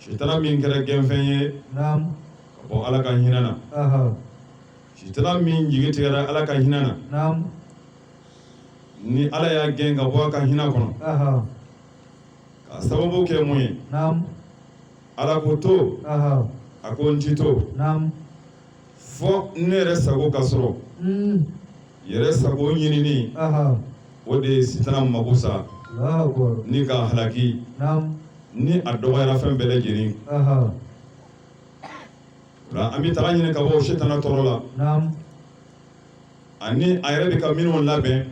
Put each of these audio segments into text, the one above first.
sitana min kɛra gɛnfɛn ye ka bɔ ala ka hinɛ na sitana min jigi tigɛra ala ka hinɛ na ni ala y'a gɛn ka bɔ a ka hinɛ kɔnɔ k'a sababu kɛ mun ye ala ko to a ko n tɛ to fɔ ne yɛrɛ sago ka sɔrɔ yɛrɛ sago ɲinini o de ye sitana mago sa ni k'a halaki ni a dɔgɔyara fɛn bɛɛ lajɛlen an bɛ tanga ɲini ka bɔ sitana tɔɔrɔ la ani a yɛrɛ bɛ ka minnu labɛn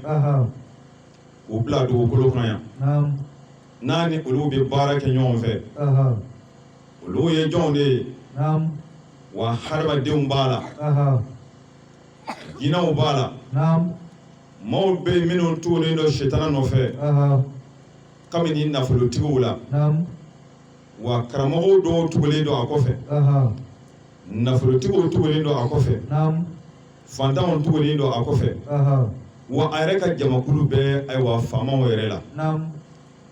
u bila dugukolo kan yan n'a ni olu bɛ baara kɛ ɲɔgɔn fɛ olu ye jɔnw de ye wa hadamadenw b'a la jinɛw b'a la maaw bɛ yen minnu tugulen don sitana nɔfɛ kabini nafolotigiw la wa karamɔgɔ dɔw tugulen don a kɔfɛ nafolotigiw tugulen don a kɔfɛ fantanw tugulen don a kɔfɛ wa a yɛrɛ ka jamakulu bɛɛ ayiwa faamaw yɛrɛ la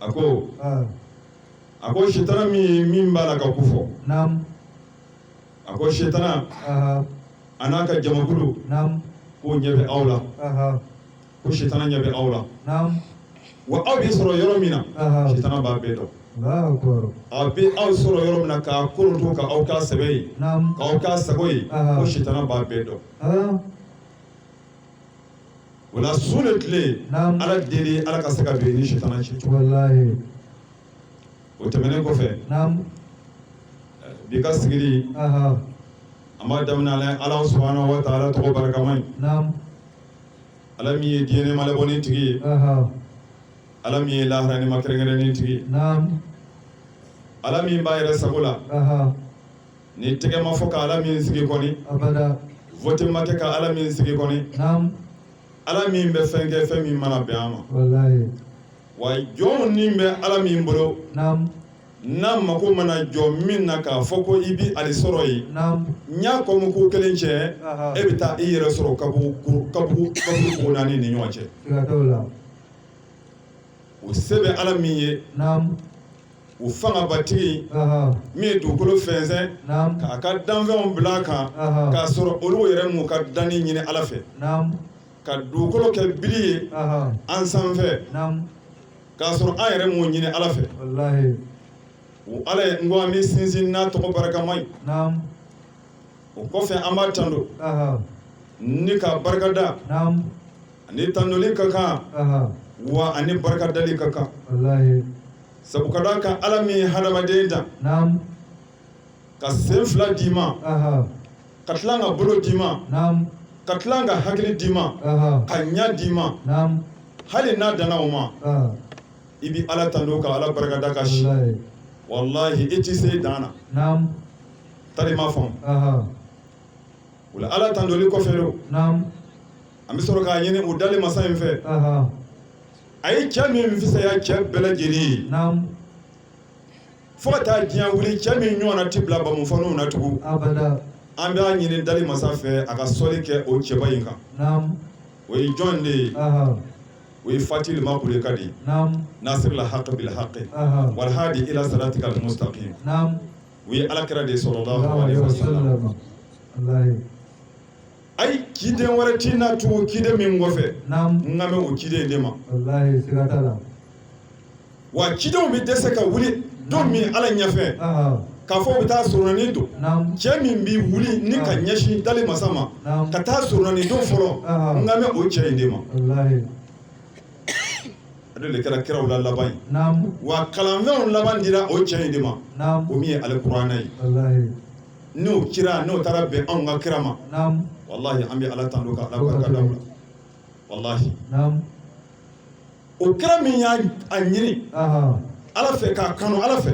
a ko a ko sitana min ye min b'a la ka ko fɔ naam a ko sitana a n'a ka jamakulu k'u ɲɛ bɛ aw la ko sitana ɲɛ bɛ aw la wa aw bɛ sɔrɔ yɔrɔ min na sitana b'a bɛɛ dɔn a bɛ aw sɔrɔ yɔrɔ min na k'a koronto ka aw k'a sɛbɛ ye k'aw k'a sago ye ko sitana b'a bɛɛ dɔn o la su ni tile naam Ala deli Ala ka se ka bɛn ni sitana cɛ walahi o tɛmɛnen kɔfɛ naam bi ka sigili aha an b'a daminɛ n'Ala Ala subahanahu wa taala tɔgɔ barikama ye naam Ala min ye diɲɛ nɛɛma labɔlen tigi ye aha Ala min ye lahara nɛɛma kɛrɛnkɛrɛnnen tigi ye naam Ala min b'a yɛrɛ sago la aha ni tɛgɛ ma fɔ ka ala min sigi kɔni wote ma kɛ ka ala min sigi kɔni ala min bɛ fɛn kɛ fɛn min mana bɛn a ma wa jɔnw ni bɛ ala min bolo n'a mako mana jɔ min na k'a fɔ ko i bɛ ali sɔrɔ i ɲɛ kɔmi ko kelen tɛ e bɛ taa i yɛrɛ sɔrɔ kaburu kogo naani ni ɲɔgɔn cɛ o se bɛ ala min ye o fangabatigi min ye dugukolo fɛnsɛn k'a ka danfɛnw bila a kan k'a sɔrɔ olu yɛrɛ m'u ka danni ɲini ala fɛ ka dugukolo kɛ biri ye an sanfɛ k'a sɔrɔ an yɛrɛ m'o ɲini ala fɛ o ala ye n ko an bɛ sinsin n'a tɔgɔ barikama ye o kɔfɛ an b'a tando ni k'a barika da a ni tandoli ka kan wa a ni barika dali ka kan sabu ka da a kan ala min ye hadamaden dan ka sen fila di i ma ka tila ka bolo di i ma ka tila ka hakili di i ma ka ɲɛ di i ma hali n'a danna o ma i bɛ ala tando ka ala barika da ka si walahi i tɛ se dan na n teri m'a faamu wala ala tandoli kɔfɛ an bɛ sɔrɔ k'a ɲini o dali masa in fɛ a ye cɛ min fisaya cɛ bɛɛ lajɛlen ye fo ka taa diɲɛ wuli cɛ min ɲɔgɔnna tɛ bila bamufanu na tugun an b'a ɲini dali masa fɛ a ka sɔli kɛ o cɛba in kan o ye jɔn de ye o ye fatihu lima ugulika de nasirilhaki bilhaki walhadi ila siratikal mustakim o ye ala kira de salalahu ayi ciden wɛrɛ tɛ na tugu ciden min kɔfɛ naam n kan bɛ o ciden de ma wallahi siga t'a la wa cidenw bɛ dɛsɛ ka wuli don min ala ɲɛfɛ aha k'a fɔ u bɛ taa soronanin don naam cɛ min b'i wuli ni ka ɲɛsin dali masa ma naam ka taa soronanin don fɔlɔ Ah. n kan bɛ o cɛ in de ma wallahi o de kɛra kiraw la laban ye naam wa kalanfɛnw laban dira o cɛ in de ma naam o min ye alikuranɛ ye wallahi n'o kira n'o taara bɛn anw ka kira ma wala an bɛ ala tan ka wala o kira min y' a ɲini ala fɛ k'a kanu ala fɛ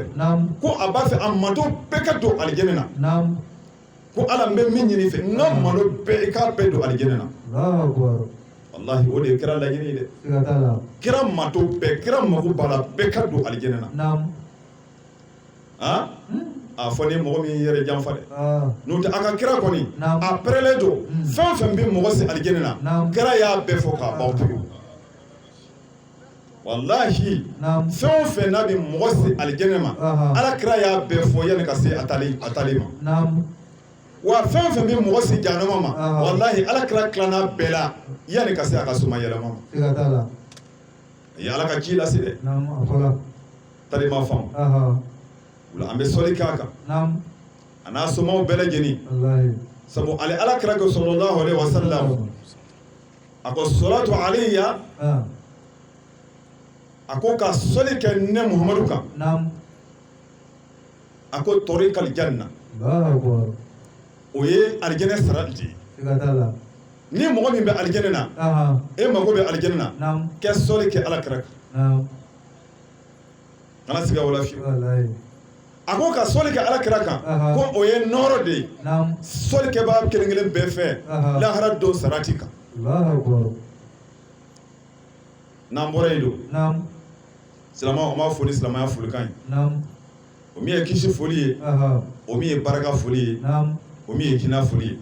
ko a b'a fɛ a manton bɛɛ ka don alijɛnɛ na ko ala n bɛ min ɲini i fɛ n ka manton bɛɛ i k'a bɛɛ don alijɛnɛ na wala o de kira laɲini dɛ kira manton bɛɛ kira mako b'a la bɛɛ ka don alijɛnɛ na aa fo ni mɔgɔ min y'i yɛrɛ janfa dɛ n'o tɛ an ka kira kɔni a pɛrɛlen don hmm. fɛn fɛn bɛ mɔgɔ se alijɛnɛ na kira y'a bɛɛ fɔ k'a ban pewu walahi fɛn o fɛn n'a bɛ mɔgɔ se alijɛnɛ ma ala kira y'a bɛɛ fɔ yanni ka se a taali a taali ma wa fɛn fɛn bɛ mɔgɔ se jahanama ma walahi ala kira tilanna bɛɛ la yanni ka se a ka somayɛlɛma ma a ye ala ka ci lase dɛ teri m'a faamu o la an bɛ sɔli k'a kan a n'a somaw bɛɛ lajɛlen sabu ale ala kira ko salalahu alayihi wasalam a ko solatu alaya a ko ka sɔli kɛ ne muhammadu kan a ko torikal jana o ye alijɛnɛ sira de ye ni mɔgɔ min bɛ alijɛnɛ na e mago bɛ alijɛnɛ na ka sɔli kɛ ala kira kan kana siga wala fiyewu a ko ka sɔli kɛ ala kira kan ko o ye nɔɔrɔ de ye sɔli kɛbaa kelen kelen bɛɛ fɛ lahara don sirati kan n'an bɔra yen don silama uma fo ni silamaya folikan ye o min ye kisi foli ye o min ye barika foli ye o min ye hinɛ foli ye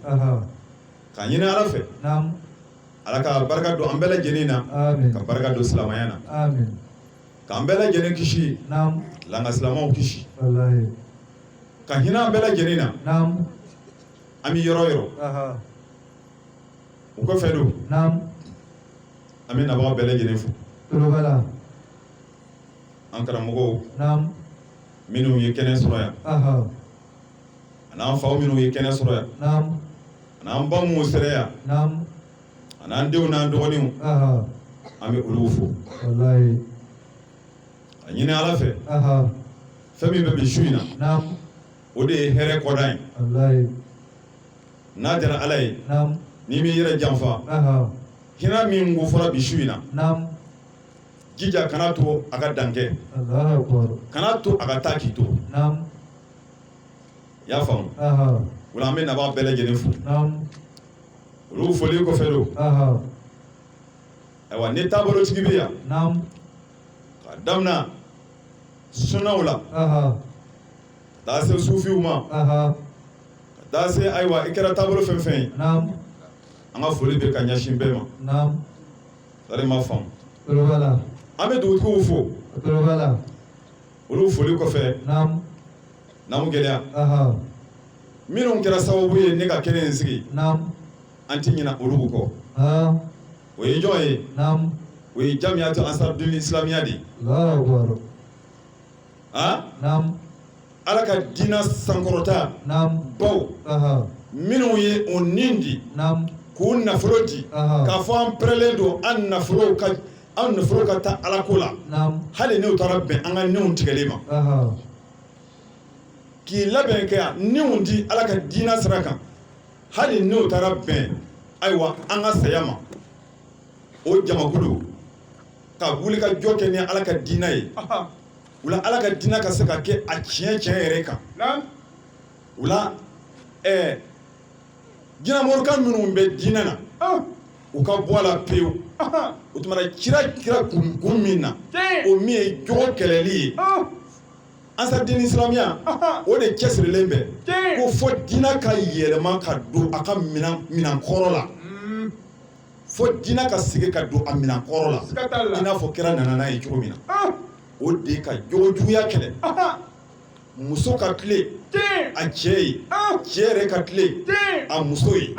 k'a ɲini ala fɛ ala ka barika don an bɛɛ lajɛlen na ka barika don silamɛya na k'an bɛɛ lajɛlen kisi ala ka silamɛw kisi ka hinɛ an bɛɛ lajɛlen na an bɛ yɔrɔ yɔrɔ o kɔfɛ don an bɛ nabagaw bɛɛ lajɛlen fo an karamɔgɔ minnu ye kɛnɛ sɔrɔ yan an'an faw minnu ye kɛnɛ sɔrɔ yan an'an ba minnu sera yan an'an denw n'an dɔgɔninw an bɛ olu fo a ɲini ala fɛ fɛn min bɛ bi su in na o de ye hɛrɛ ko dan ye n'a diyara ala ye n'i m'i yɛrɛ janfa hinɛ min ko fɔra bi su in na jija kana to a ka dankɛ kana to a ka taa k'i to i y'a faamu wala an bɛ nabaa bɛɛ lajɛlen fo olu folilen kɔfɛ don ayiwa ni taabolotigi bɛ yan ka daminɛ sunnaw la ka taa se sufiw ma ka taa se ayiwa i kɛra taabolo fɛn fɛn ye an ka foli bɛ ka ɲɛsin bɛɛ ma tari ma faamu an bɛ dugutigiw fo olu foli kɔfɛ n'an gɛlɛya minnu kɛra sababu ye ne ka kɛnɛ in sigi an tɛ ɲina olu kɔ o ye jɔn ye o ye jamiyatu ansarudin isilamiya de ala ka diinɛ sankɔrɔtabaaw minnu ye u ni di k'u nafolo di k'a fɔ an prɛlen don an nafolo ka an nafolo ka taa ala ko la hali n'o taara bɛn an ka niw tigɛlen ma k'i labɛn k'i ka niw di ala ka diinɛ sira kan hali n'o taara bɛn ayiwa an ka saya ma o jamakulu ka wuli ka jɔ kɛ ni ala ka diinɛ ye wala ala ka diinɛ ka se ka kɛ a tiɲɛ tiɲɛ yɛrɛ kan wala ɛɛ jinɛmorikan minnu bɛ diinɛ na u ka bɔ a la pewu o tuma kira kira kun min na o min ye jogo kɛlɛli ye ansari dini silamɛya o de cɛsirilen bɛ ko fo diinɛ ka yɛlɛma ka don a ka minɛn kɔrɔ la fo diinɛ ka segi ka don a minɛn kɔrɔ la i n'a fɔ kira nana n'a ye cogo min na o de ka jogo juguya kɛlɛ muso ka tilen a cɛ ye cɛ yɛrɛ ka tilen a muso ye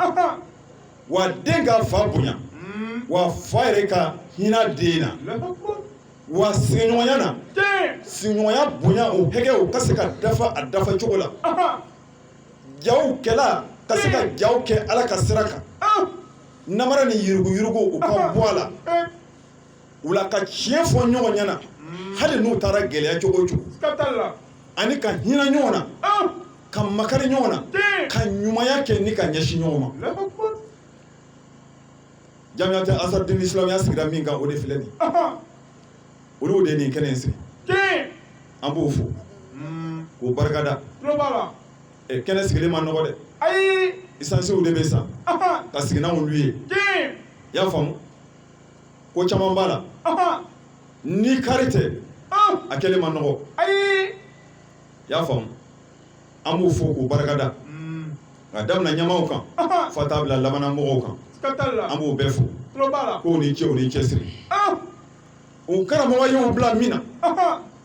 wa den ka fa bonya wa fa yɛrɛ ka hinɛ den na wa sigiɲɔgɔnya na sigiɲɔgɔnya bonya o hakɛ o ka se ka dafa a dafa cogo la jagokɛla ka se ka jago kɛ ala ka sira kan namara ni yurugu yurugu u ka bɔ a la wala ka tiɲɛ fɔ ɲɔgɔn ɲɛna hali n'u taara gɛlɛya cogo cogo ani ka hinɛ ɲɔgɔn na ka makari ɲɔgɔn na ka ɲumanya kɛ ni ka ɲɛsin ɲɔgɔn ma jamiyatu ansari dini silamɛya sigira min kan o de filɛ nin o denw de nin kɛnɛ in sigi an b'u fo hmm. k'u barikada kɛnɛ sigilen man nɔgɔ dɛ isansiw de bɛ san ka sigilanw luwe i y'a faamu ko caman b'a la ni kari tɛ a kɛlen man nɔgɔ i y'a faamu an b'u fo k'u barikada mm. ka daminɛ ɲɛmaaw kan fo t'a bila laban na mɔgɔw kan an b'u bɛɛ fo k'u ni ce u ni cɛsiri u karamɔgɔ y'u bila min na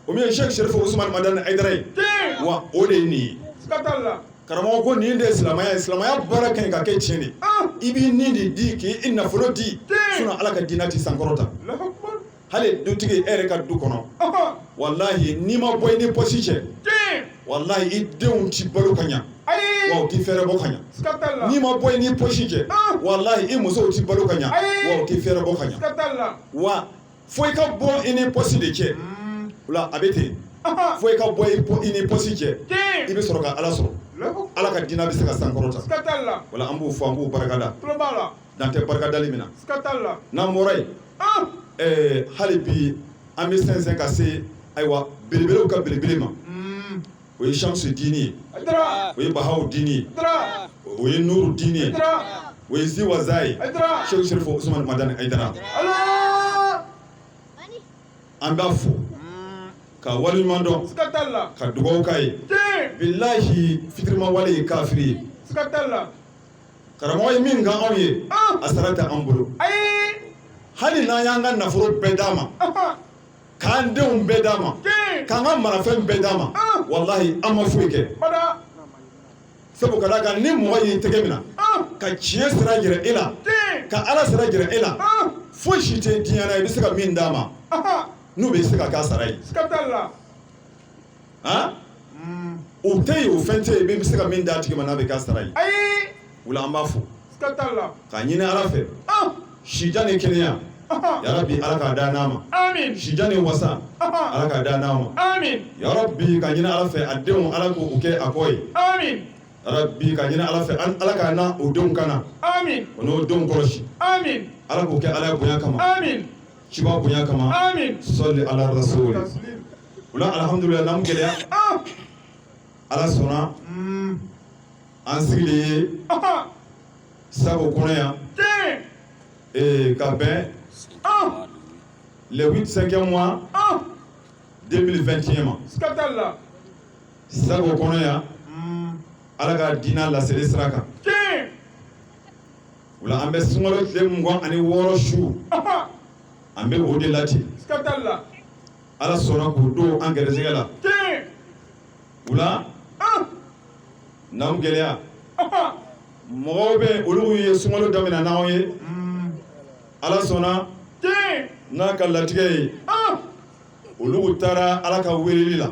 o min ye sɛk sɛrifu usumani madani ayidara ye wa o de ye nin ye karamɔgɔ ko nin de ye silamɛya ye silamɛya baara ka ɲi ka kɛ ten de i b'i ni de di k'i nafolo di sinɔn ala ka diinɛ ti sankɔrɔta hali dutigi e yɛrɛ ka du kɔnɔ walahi n'i ma bɔ i ni pɔsi cɛ walahi i denw ti balo ka ɲa wa u ti fɛɛrɛbɔ ka ɲa n'i ma bɔ i ni pɔsi cɛ walahi i musow ti balo ka ɲa wa u ti fɛɛrɛbɔ ka ɲa wa fo i ka bɔ i ni pɔsi de cɛ wala a bɛ ten fo i ka bɔ i ni pɔsi cɛ i bɛ sɔrɔ ka ala sɔrɔ ala ka diinɛ bɛ se ka sankɔrɔta wala an b'u fo an b'u barikada dan tɛ barikadali min na n'an bɔra yen hali bi an bɛ sɛnsɛn ka se ayiwa belebelew ka belebele ma o ye shamsu diini ye, hayidaraa, o ye bahaw diini ye, hayidaraa, o ye nuuru diini ye, hayidaraa, o ye ziwaza ye, hayidaraa, seku serifu usumani madani hayidaraa, alaa, an b'a fo k'a waleɲumandɔn, siga t'a la, ka dugawu k'a ye, tiɲɛ, bilahi fitirimawale ye kafiri ye, siga t'a la, karamɔgɔ ye min kɛ anw ye, an, a sara tɛ an bolo, ayi, hali n'an y'an ka nafolo bɛɛ d'a ma, anhan k'an denw bɛɛ d'a ma k'an ka marafɛn bɛɛ d'a ma walahi an ma foyi kɛ sabu ka d'a kan ni mɔgɔ y'i tɛgɛ minɛ ka tiɲɛ sira jira e la ka ala sira jira e la foyi si tɛ diɲɛ na i bɛ se ka min d'a ma n'o bɛ se ka k'a sara ye o tɛ yen o fɛn tɛ yen i bɛ se ka min d'a tigi ma n'a bɛ k'a sara ye o la an b'a fɔ k'a ɲini ala fɛ si jan ni kɛnɛya yarabi ala k'a d'a ma si jan ni wasa ala k'a d'a ma yarabi k'a ɲini ala fɛ a denw ala k'u kɛ a kɔ yarabi k'a ɲini ala fɛ ala ka na o denw ka na o n'o denw kɔlɔsi ala k'o kɛ ala bonya kama ci ba bonya kama amin salli ala rasul o la alhamdulillah naamu gɛlɛya ah! ala sɔnna mm. an sigilen ye sago kɔnɔ yan ee ka bɛn ah! le 8 5ème mois 2021 ma sago kɔnɔ yan mm. ala ka diinɛ laseli sira kan o la an bɛ sunkalo tile mugan ani wɔɔrɔ su an bɛ o de la ten ala sɔnna k'o don an garisɛgɛ la o la naamu gɛlɛya mɔgɔw bɛ olu ye sunkalo daminɛ n'anw ye mm. ala sɔnna n'a ka latigɛ ye olu taara ala ka weleli la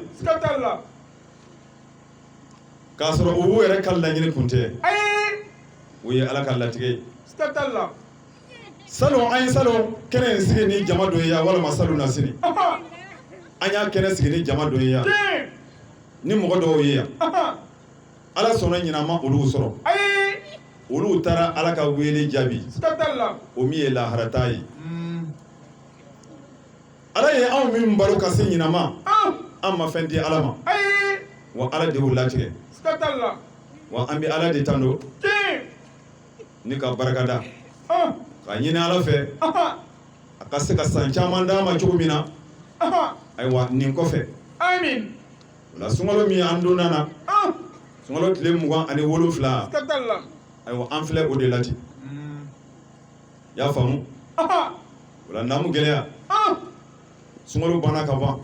k'a sɔrɔ u yɛrɛ ka laɲini tun tɛ o ye Ala ka latigɛ ye salon an ye salon kɛnɛ in sigi ni jama dɔ ye yan walima salon nasini an y'a kɛnɛ sigi ni jama dɔ ye yan ni mɔgɔ dɔw ye yan Ala sɔnna ɲinan a ma olu sɔrɔ olu taara Ala ka wele jaabi o min ye lahara taa ye. Ala ye anw minnu balo ka se ɲinan ma, an, an ma fɛn di Ala ma, ayi, wa Ala de y'o latigɛ, siga t'a la, wa an bɛ Ala de tanu, tiɲɛ, ani k'a barika da, an, k'a ɲini Ala fɛ, anhan, a ka se ka san caman d'an ma cogo min na, anhan, ayiwa nin kɔfɛ, aami, o la sunkalo min an donna na, an, sunkalo tile mugan ani wolonwula, siga t'a la, ayiwa an filɛ o de la ten i y'a faamu o la naamu gɛlɛya sunkalo banna ka ban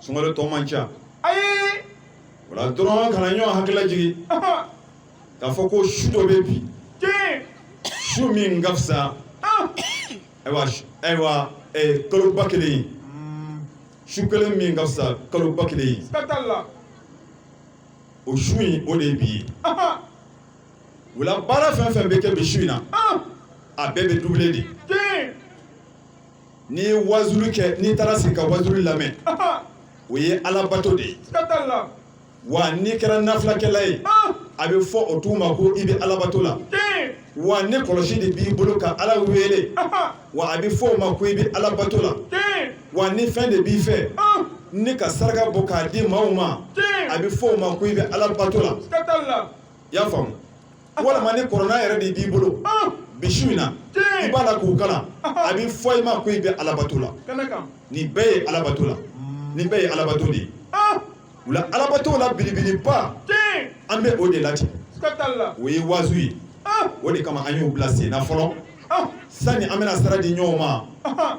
sunkalo tɔ man ca o la dɔrɔn an ka na ɲɔgɔn hakili lajigin k'a fɔ ko su dɔ bɛ bi su min ka fisa ayiwa ayiwa kalo ba kelen ye su kelen min ka fisa kalo ba kelen ye o su in o de ye bi ye wula baara fɛn fɛn bɛ kɛ bi su in na a bɛɛ bɛ dubule de n'i ye waazuli kɛ n'i taara sigi ka waazuli lamɛn o ye alabato de ye wa n'i kɛra nafilakɛla ye a bɛ fɔ o tuma ma ko i bɛ alabato la wa ni kɔlɔsi de b'i bolo ka ala wele wa a bɛ fɔ o ma ko i bɛ alabato la wa ni fɛn de b'i fɛ ni ka saraka bɔ k'a di maaw ma a bɛ fɔ o ma ko i bɛ alabato la i y'a faamu walima ni kuranɛ yɛrɛ de b'i bolo bi su in na i b'a la k'o kalan a bɛ fɔ i ma ko i bɛ alabato la nin bɛɛ ye alabato la nin bɛɛ ye alabato de ye o la alabatow la belebeleba an bɛ o de la ten o ye waazu ye o de kama an y'o bila senna fɔlɔ sani an bɛna sira di ɲɔgɔn ma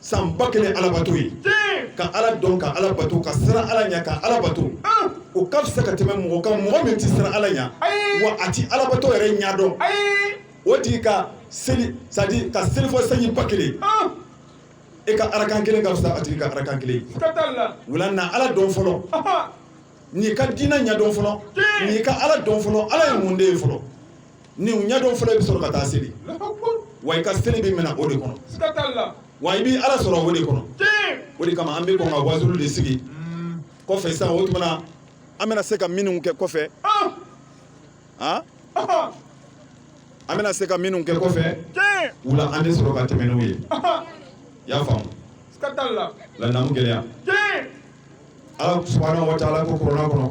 san ba kelen alabato ye ka ala dɔn ka ala bato ka siran ala ɲɛ ka ala bato o ka fisa ka tɛmɛ mɔgɔ kan mɔgɔ min tɛ siran ala ɲɛ wa a tɛ alabato yɛrɛ ɲɛ dɔn o tigi ka seli sadi ka seli fo sanji ba kelen e ka arakan kelen ka fisa a tigi ka arakan kelen wula na ala dɔn fɔlɔ n'i ka diinɛ ɲɛdɔn fɔlɔ n'i ka ala dɔn fɔlɔ ala ye mun de ye fɔlɔ ni u ɲɛdɔn fɔlɔ i bɛ sɔrɔ ka taa seli wa i ka seli bɛ minɛ o de kɔnɔ wa i bɛ ala sɔrɔ o de kɔnɔ o de kama an bɛ kɔn ka waazu de sigi mm. kɔfɛ sisan o tuma an bɛna se ka minnu kɛ kɔfɛ ah! Ah! Ah! an bɛna se ka minnu kɛ kɔfɛ wula an bɛ sɔrɔ ka tɛmɛ n'u ye i y'a faamu ladamu gɛlɛya ala subahana wa taala ko kuranɛ kɔnɔ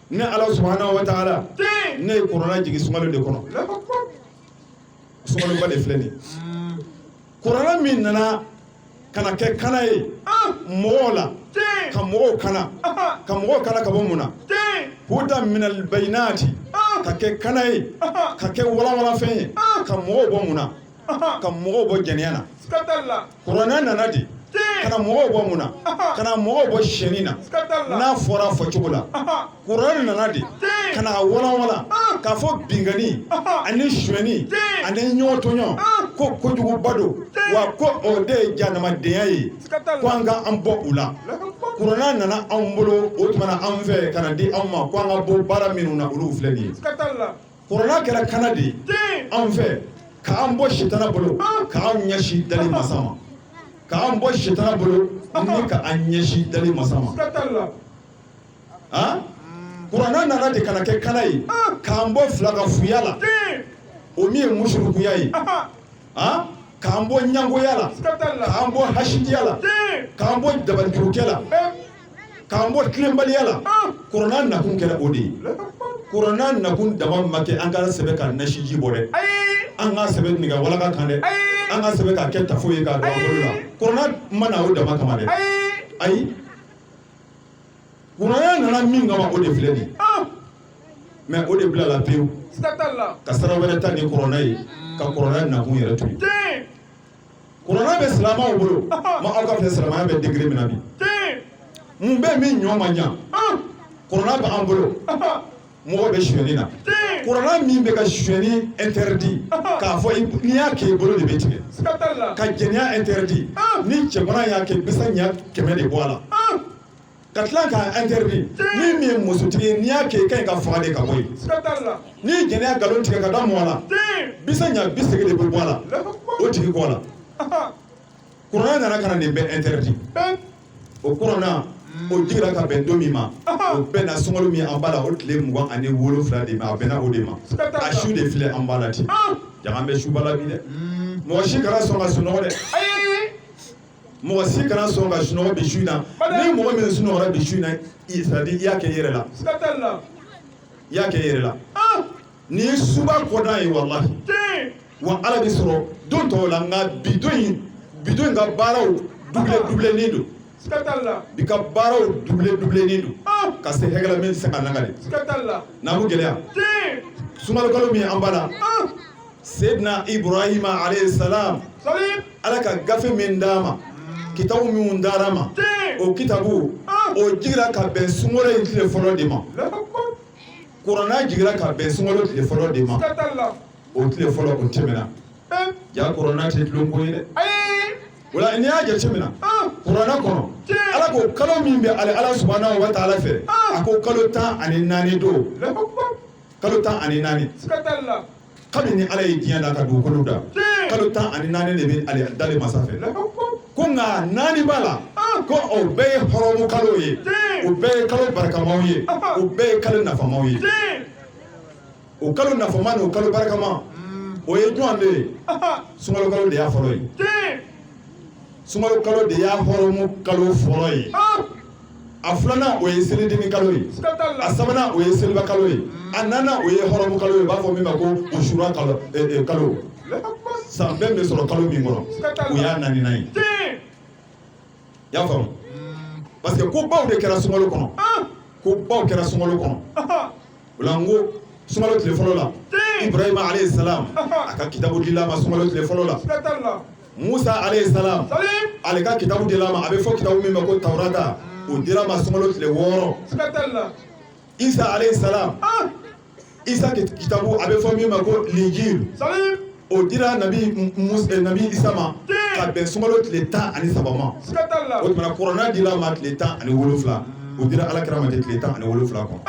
ne ala subahana wa taala ne ye kuranɛ jigin sunkalo de kɔnɔ sunkaloba de filɛ nin kuranɛ min nana ka na kɛ kana ye mɔgɔw la ka mɔgɔw kana ka mɔgɔw kana ka bɔ mun na huda minal bayinati ka kɛ kana ye ka kɛ walanwalanfɛn ye ka mɔgɔw bɔ mun na ka mɔgɔw bɔ jɛnɛya na kuranɛ nana de ka na mɔgɔw bɔ mun na ka na mɔgɔw bɔ soɲɛni na n'a fɔra fɔ cogo la kuranɛ nana de ka na a walanwalan k'a fɔ binkanni ani soɲɛni ani ɲɔgɔn tɔɲɔ ko kojuguba don wa ko o de ye janamadenya ye ko an ka an bɔ u la kuranɛ nana anw bolo o tuma an fɛ ka na di anw ma ko an ka bɔ baara minnu na olu filɛ nin ye kuranɛ kɛra kana de ye anw fɛ k'an bɔ sitana bolo k'an ɲɛsin dali masa ma k'an bɔ sitana bolo ni ka an ɲɛsin dali masa ma han kuranɛ nana de ka na kɛ kana ye k'an bɔ filankafoya la o min ye musurukuya ye han k'an bɔ ɲangoya la k'an bɔ hasidiya la k'an bɔ dabalijugukɛ la k'an bɔ tilenbaliya la kurana nakun kɛra o de ye kurana nakun dama ma kɛ an k'a sɛbɛn ka nasiji bɔ dɛ an ka sɛbɛn nɛgɛ walaka kan dɛ an k'a sɛbɛn k'a kɛ tafo ye k'a don an bolo la kurana ma na o dama kama dɛ ayi kurana nana min kama o de filɛ nin mais o de bilala pewu ka sira wɛrɛ ta ni kurana ye ka kurana nakun yɛrɛ to yen Kurana bɛ silamɛw bolo mais aw k'a filɛ silamɛya bɛ degré min na bi n bɛ min ɲɔ man ɲɛ kurana bɛ an bolo mɔgɔ bɛ sonyani na kurana min bɛ ka sonyani interdit k'a fɔ n'i y'a kɛ i bolo de bɛ tigɛ ka jɛnɛya interdit ni cɛgana y'a kɛ bisa ɲɛ kɛmɛ de bɔ a la ka tila k'a interdit ni min ye musotigi ye n'i y'a kɛ i ka ɲi ka faga de ka bɔ yen siga t'a la n'i jɛnɛya nkalon tigɛ ka da mɔgɔ la bisa ɲa bi segin de bɛ bɔ a la o tigi kɔ la kuranɛ nana ka na nin bɛɛ interdit o kurana o jigira ka bɛn don min ma o bɛnna sunkalo min an b'a la o tile mugan ani wolonfila de ma a bɛnna o de ma a su de filɛ an b'a la ten jama bɛ suba la bi dɛ mɔgɔ si kana sɔn ka sunɔgɔ dɛ mɔgɔ si kana sɔn ka sunɔgɔ bi su in na ni mɔgɔ min sunɔgɔra bi su in na c'est-à-dire i y'a kɛ i yɛrɛ la siga t'a la i y'a kɛ i yɛrɛ la ah! nin ye suba kɔdan ye walahi wa ala bɛ sɔrɔ don tɔw la nka bi don in bi don in ka baaraw dubile dubilennen don siga t'a la bi ka baaraw dubile dubilennen don ah! ka se hakɛ la min sanga nanga de siga t'a la n'an ko gɛlɛya sunkalo kalo min an b'a la ah! Seydina Iburahima alehi salam Ala ka gafe min d'a ma kitabu minnu dira a ma o kitabu o jigira ka bɛn sunkalo in tile fɔlɔ de ma kuranɛ jigira ka bɛn sunkalo tile fɔlɔ de ma o tile fɔlɔ o tɛmɛna jaa kuranɛ tɛ tulon ko ye dɛ o la n'i y'a jateminɛ kuranɛ kɔnɔ Ala ko kalo min bɛ ale Ala subahana wataala fɛ a ko kalo tan ani naani don kalo tan ani naani kabini ni ala ye diɲɛ da ka dugukolo da kalo tan ani naani de bɛ ale dali masa fɛ ko nka naani b'a la ah. ko o bɛɛ ye hɔrɔmu kalo ye o bɛɛ ye kalo barikamaw ye ah. o bɛɛ ye kalo nafamaw ye o kalo nafama ni o kalo barikama mm. o ye jɔn de ye ah. sunkalo kalo de y'a fɔlɔ ye sunkalo kalo de y'a hɔrɔmu kalo fɔlɔ ye a filanan o ye selidennin kalo ye a sabanan o ye seliba kalo ye a naaninan o ye hɔrɔmu kalo ye u b'a fɔ min ma ko asura kalo eh, eh, kalo san bɛɛ bɛ sɔrɔ kalo min kɔnɔ o y'a naaninan ye i y'a faamu parce que ko baw de kɛra sunkalo kɔnɔ ko baw kɛra sunkalo kɔnɔ O la n ko sunkalo tile fɔlɔ la, tii, Iburahima ale salam a ka kitabu dila a ma sunkalo tile fɔlɔ la, siga t'a la, Musa ale salam ale ka kitabu dila a ma a bɛ fɔ kitabu min ma ko tawurata o dira a ma sunkalo tile wɔɔrɔ, siga t'a la, Isa ale salam Isa kitabu a bɛ fɔ min ma ko linjil o dira nabi nabi isa ma ka bɛn sunkalo tile tan ani saba ma o tuma kuranɛ dira ma tile tan ani wolonwula o dira alakira ma tile tan ani wolonwula kɔnɔ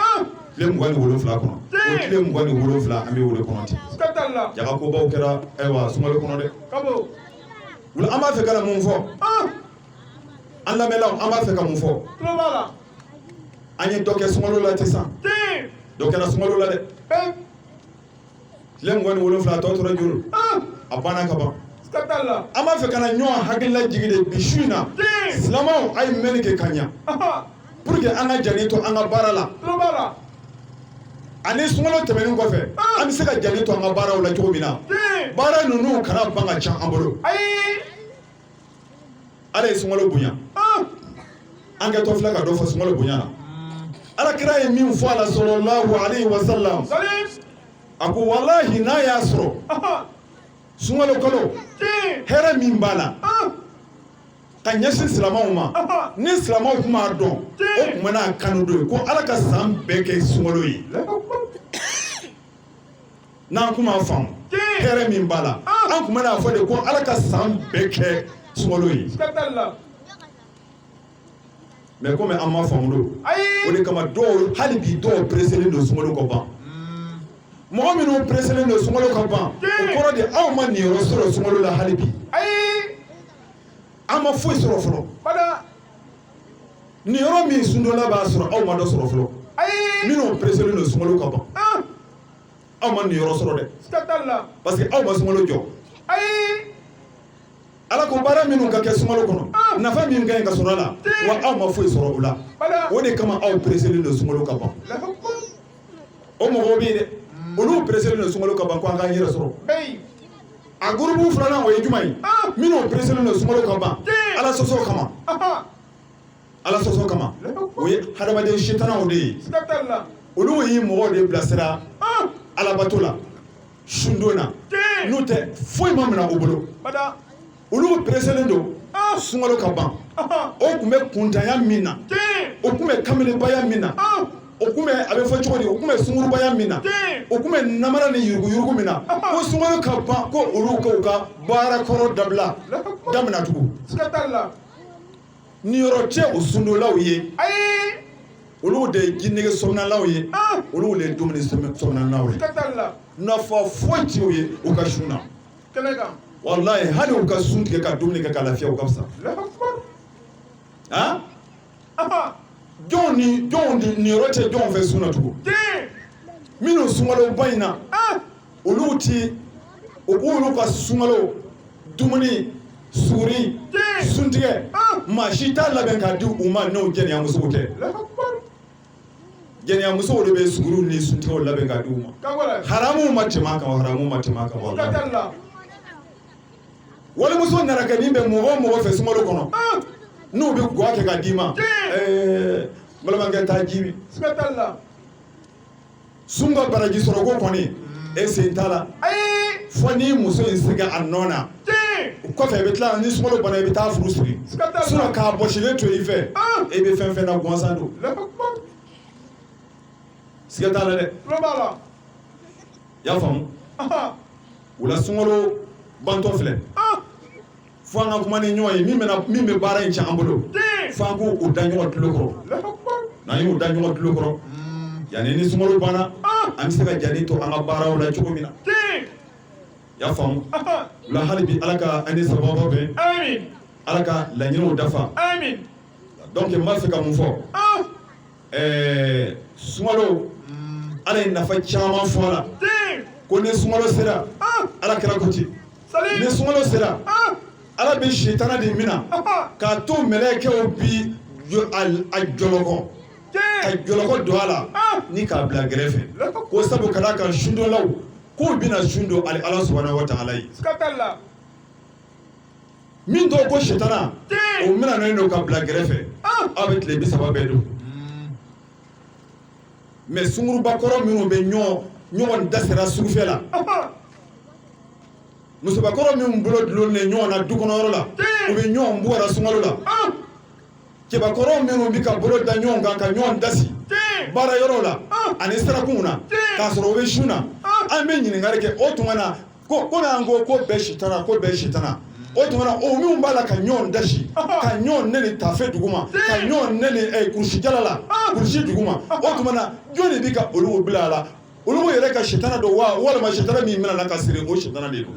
tile mugan ni wolonwula kɔnɔ o tile mugan ni wolonwula an bɛ o de kɔnɔ ten jaga kobaw kɛra ayiwa sunkalo kɔnɔ dɛ o la an b'a fɛ ka mun fɔ an lamɛnlaw an b'a fɛ ka mun fɔ an ye dɔ kɛ sunkalo la sisan dɔ kɛra sunkalo la dɛ tile mugan ni wolonwula a tɔ tora joli a banna ka ban an b'a fɛ ka na ɲɔgɔn hakili lajigin de bi su in na silamɛw a ye mɛnni kɛ ka ɲa pour que an ka janto an ka baara la ani sunkalo tɛmɛnen kɔfɛ an bɛ se ka janto an ka baaraw la cogo min na baara ninnu kana ban ka cɛn an bolo ala ye sunkalo bonya an kɛtɔ filɛ ka dɔ fɔ sunkalo bonya na alakira ye min fɔ a la sallallahu alaihi wasallam a ko walahi n'a y'a sɔrɔ sunkalo kalo hɛrɛ min b'a la ka ɲɛsin silamɛw ma ni silamɛw tun b'a dɔn o tun bɛna a kanu de ko ala ka san bɛɛ kɛ sunkalo ye n'an tun b'a faamu hɛrɛ min b'a la ah! an tun b'a fɔ de ko ala ka san bɛɛ kɛ sunkalo ye mɛ komi an m'a faamu o de kama dɔw hali bi dɔw pereselen don sunkalo ka ban hmm. mɔgɔ minnu pereselen don sunkalo ka ban o kɔrɔ de aw ma niyɔrɔ sɔrɔ sunkalo la hali bi aw ma foyi sɔrɔ fɔlɔ niyɔrɔ min sundola b'a sɔrɔ aw ma dɔ sɔrɔ fɔlɔ minnu pereselen don sunkalo ka ban ah! aw ma niyɔrɔ sɔrɔ dɛ parce que aw ma sunkalo jɔ ayi ala ko baara minnu ka kɛ sunkalo kɔnɔ ah. nafa min ka kan ka sɔrɔ a la wa aw ma foyi sɔrɔ o la o de kama aw pereselen don sunkalo ka ban o mɔgɔw bɛ yen dɛ hmm. olu pereselen don sunkalo ka ban ko an k'an yɛrɛ sɔrɔ a gurubu filanan o ye jumɛn ye ah. minnu pereselen don sunkalo ka ban ala sɔsɔ kama ala sɔsɔ kama o ye hadamaden sitanɛw de ye olu ye mɔgɔw de bilasira alabato la sundon na n'o tɛ foyi ma minɛ u bolo olu pereselen don sunkalo ka ban o tun bɛ kuntanya min na o tun bɛ kamalenbaya min na o tun a bɛ fɔ cogo di o tun bɛ sungurunbaya min na o tun bɛ namara ni yuruguyurugu min na ko sunkalo ka ban ko olu k'u ka baara kɔrɔ dabila daminɛ tugun niyɔrɔ tɛ o sundolaw ye olu de ye ji nege sunnaw ye olu de ye dumuni sunnaw ye nafa foyi tɛ u ye u ka sun na walahi hali u ka sun tigɛ ka dumuni kɛ ka lafiya u ka sa a jɔn niyɔrɔ tɛ jɔn fɛ sun na tugun minnu sunba in na olu tɛ u b'olu ka sunkalo dumuni suguri suntigɛ maa si t'a labɛn ka di u ma n'o jɛnɛyamuso tɛ jɛnɛyamuso de bɛ suguri ni sunw labɛn ka di u ma hamu ma cɛman kan hamu ma cɛman kan walimuso nana kɛ min bɛ mɔgɔ mɔgɔ fɛ sunkalo kɔnɔ n'u bɛ ga kɛ ka d'i ma balimakɛ taa ji sun ka baraji sɔrɔ ko kɔni e sen t'a la fo n'i muso in sigi a nɔ na o kɔfɛ i bɛ tila ni sunkalo banna i bɛ taa furu siri sinɔn k'a bɔsilen to i fɛ e bɛ fɛn fɛn na gansan don siga t'a la dɛ i y'a faamu o la sunkalo bantɔ filɛ fo an ka kuma ni ɲɔgɔn ye min bɛna min bɛ baara in cɛn an bolo fo an k'o o da ɲɔgɔn tulo kɔrɔ n'an y'o da ɲɔgɔn tulo kɔrɔ yanni ni sunkalo banna an bɛ se ka janto an ka baaraw la cogo min na y'a faamu o la hali bi ala ka an ni sababu bɛn ala ka laɲiniw dafa donc n b'a fɛ ka mun fɔ ɛɛ sunkalo ala ye nafa caman fɔ a la ko ni sunkalo sera ala kira kuti ni sunkalo sera ala bɛ sitana de minɛ k'a to mɛlɛkɛw bi a jɔlɔkɔ ka jɔlɔkɔ don a la ni k'a bila kɛrɛfɛ ko sabu ka d'a kan sundonlaw k'u bɛna sun don ale ala subahana wa taala ye min tɔgɔ ko sitana o minɛnen don ka bila kɛrɛfɛ aw bɛ tile bi saba bɛɛ don mɛ sungurunbakɔrɔ minnu bɛ ɲɔgɔn ɲɔgɔn dasira sugufɛ la musobakɔrɔ minnu bolo dulonnen ɲɔgɔn na du kɔnɔyɔrɔ la u bɛ ɲɔgɔn bugɔra sunkalo la cɛbakɔrɔ minnu bɛ ka bolo da ɲɔgɔn kan ka ɲɔgɔn dasi baara yɔrɔ la ani sirakunw na k'a sɔrɔ u bɛ sun na an bɛ ɲininkali kɛ o tuma na ko ko an ko ko bɛɛ sitana ko bɛɛ sitana o tuma o minw b'a la ka ɲɔgɔn dasi ka ɲɔgɔn neni tafe dugu ma ka ɲɔgɔn neni eh, kurusijala la ah! kurusi dugu ma o tuma na jɔn de bɛ ka olu bila a la olu yɛrɛ ka sitana don wa walima sitana min minɛna ka siri o sitana de don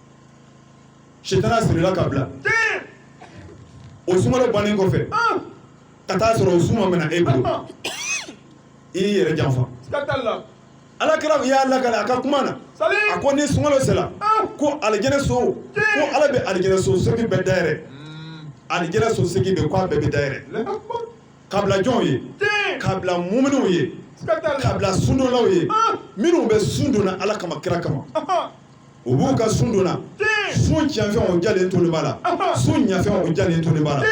sitana sirila ka bila o sunkalo bannen kɔfɛ ka taa sɔrɔ o sun ma minɛ e bolo i y'i yɛrɛ janfa ala kira u y'a lakale a ka kuma na a ko ni sunkalo sera ko alijɛnɛ so ko ala bɛ alijɛnɛ so segin bɛɛ dayɛrɛ alijɛnɛ so segin bɛɛ ko a bɛɛ bɛ dayɛrɛ ka bila jɔnw ye ka bila muminiw ye ka bila sundonlaw ye minnu bɛ sun donna ala kama kira kama u b'u ka sun don na sun cɛnfɛn o jalen to b'a la sun ɲafɛn o jalen to b'a la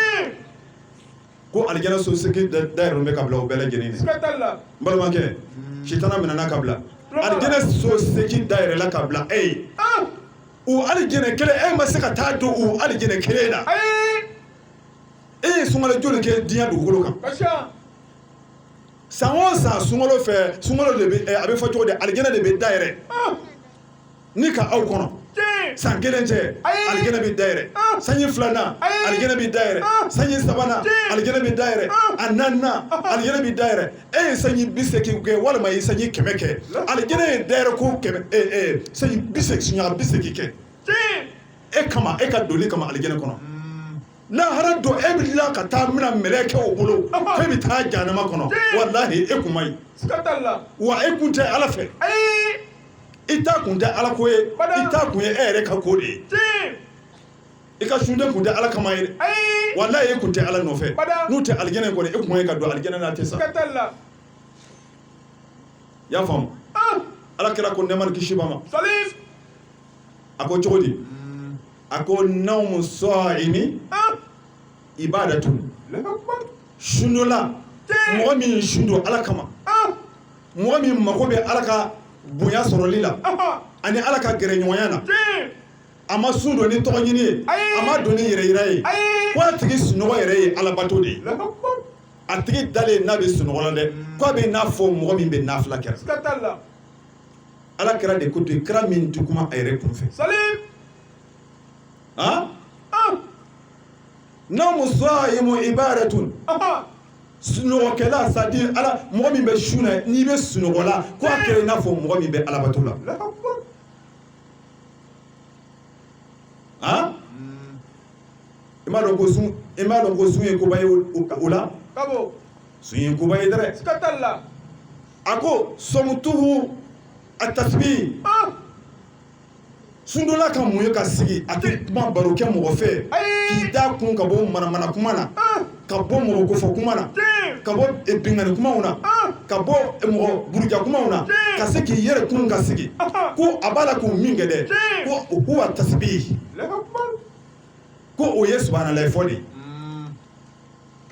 ko alijana so segin da bɛ ka bila u bɛɛ lajɛlen balimakɛ sitanɛ minɛna ka bila alijana so segin da yɛrɛ la ka bila e ye alijɛnɛ kelen e ma se ka taa don alijɛnɛ kelen na e ye sunkalo joli kɛ diɲɛ dugukolo kan san o san sunkalo fɛ sunkalo don a bɛ fɔ cogo di alijana de bɛ da yɛrɛ ni ka aw kɔnɔ san kelen tɛ alijana bɛ da yɛrɛ sanji filanan alijana bɛ da yɛrɛ sanji sabanan alijana bɛ da yɛrɛ a naaninan alijana bɛ da yɛrɛ e ye sanji bi segin kɛ walima e ye sanji kɛmɛ kɛ alijana ye da yɛrɛ ko siɲɛ bi segin kɛ e kama e ka donni kama alijana kɔnɔ lahara don e bɛ tila ka taa minɛ mɛlɛkɛw bolo e bɛ taa jahanama kɔnɔ walahi e kun man ɲi wa e kun tɛ ala fɛ i ta kun tɛ ala ko ye i ta kun ye e yɛrɛ ka ko de ye i ka sunjata tun tɛ ala kama ye wala e kun tɛ ala nɔfɛ n'o tɛ alijana in kɔni e kun ye ka don alijana n'a tɛ sa y'a faamu ala kira ko nɛɛma ni kisi b'a ma a ko cogo di a ko nawmu sayimi ibadatun sundola mɔgɔ min sun don ala kama mɔgɔ min mago bɛ ala ka bonya sɔrɔli la ani ala ka gɛrɛɲɔgɔnya na a ma sun don ni tɔgɔɲini ye a m'a don ni yɛrɛyira ye ko a tigi sunɔgɔ yɛrɛ ye alabato de ye a tigi dalen n'a bɛ sunɔgɔla dɛ k' a bɛ n'a fɔ mɔgɔ min bɛ nafila kɛ ala kira de ko kira min tɛ kuma a yɛrɛ kun fɛ nawmu sayimi ibadatun sunɔgɔkɛla sa ala mɔgɔ min bɛ sun na n'i bɛ sunɔgɔla ko a kɛra i n'a fɔ mɔgɔ min bɛ alabato la i b'a dɔn ko sun i b'a dɔn ko sun ye koba ye o la sun ye koba ye dɛrɛ a ko samutuhu tasibihu sundola ka mun ye ka sigi a tɛ kuma baro kɛ mɔgɔ fɛ k'i da kun ka bɔ manamana kuma na ka bɔ mɔgɔ kofɔ kuma na ka bɔ binkanni kumaw na ka bɔ mɔgɔ buruja kumaw na ka se k'i yɛrɛ kun ka sigi ko a b'a la k'o min kɛ dɛ ko o ko a tasibihu ko o ye subahanalafɔ de ye, un,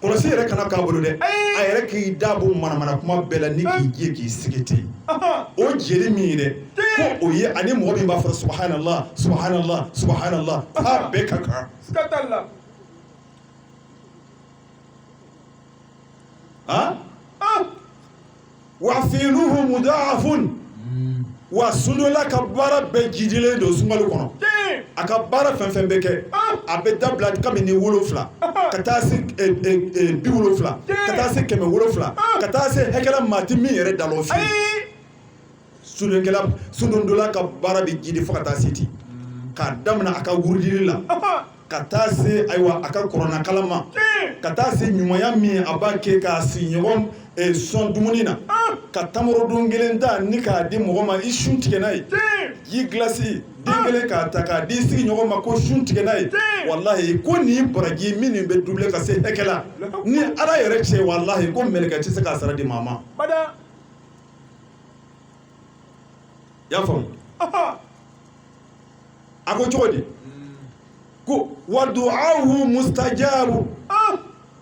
kɔlɔsi yɛrɛ kana k'a bolo dɛ, ayi, a yɛrɛ k'i da bɔ manamana kuma bɛɛ la ni k'i jɛ k'i sigi ten, ɔhɔ, o jɛli min ye dɛ, tii, ko o ye ani mɔgɔ min b'a fɔla subahanala subahanala subahanala k'a bɛɛ ka kan, siga t'a la, han, an wa fiiluhu mudaafun wa sundonla ka baara bɛɛ jiidilen don sunkalo kɔnɔ a ka baara fɛn fɛn bɛ kɛ a bɛ dubile kabini wolonwula ka taa se bi wolonwula ka taa se kɛmɛ wolonwula ka taa se hakɛ la maati min yɛrɛ da fɛ sunkɛla sundonla ka baara bɛ jiidi fo ka taa se k'a daminɛ a ka wurudi la ka taa se ayiwa a ka kuranɛ kalan ma ka taa se ɲumanya min a b'a kɛ k'a sigiɲɔgɔn eh, sɔn dumuni na ka tamaroden kelen ta ni k'a di mɔgɔ ma i sun tigɛ n'a ye ji gilasi den kelen k'a ta k'a di sigiɲɔgɔn ma ko sun tigɛ n'a ye walahi ko nin baraji min nin bɛ dubile ka se hakɛ la ni ala yɛrɛ cɛ walahi ko mɛlɛkɛ tɛ se k'a sara di maa ma i y'a faamu a ko cogo di ko wa duauhu mustajaabu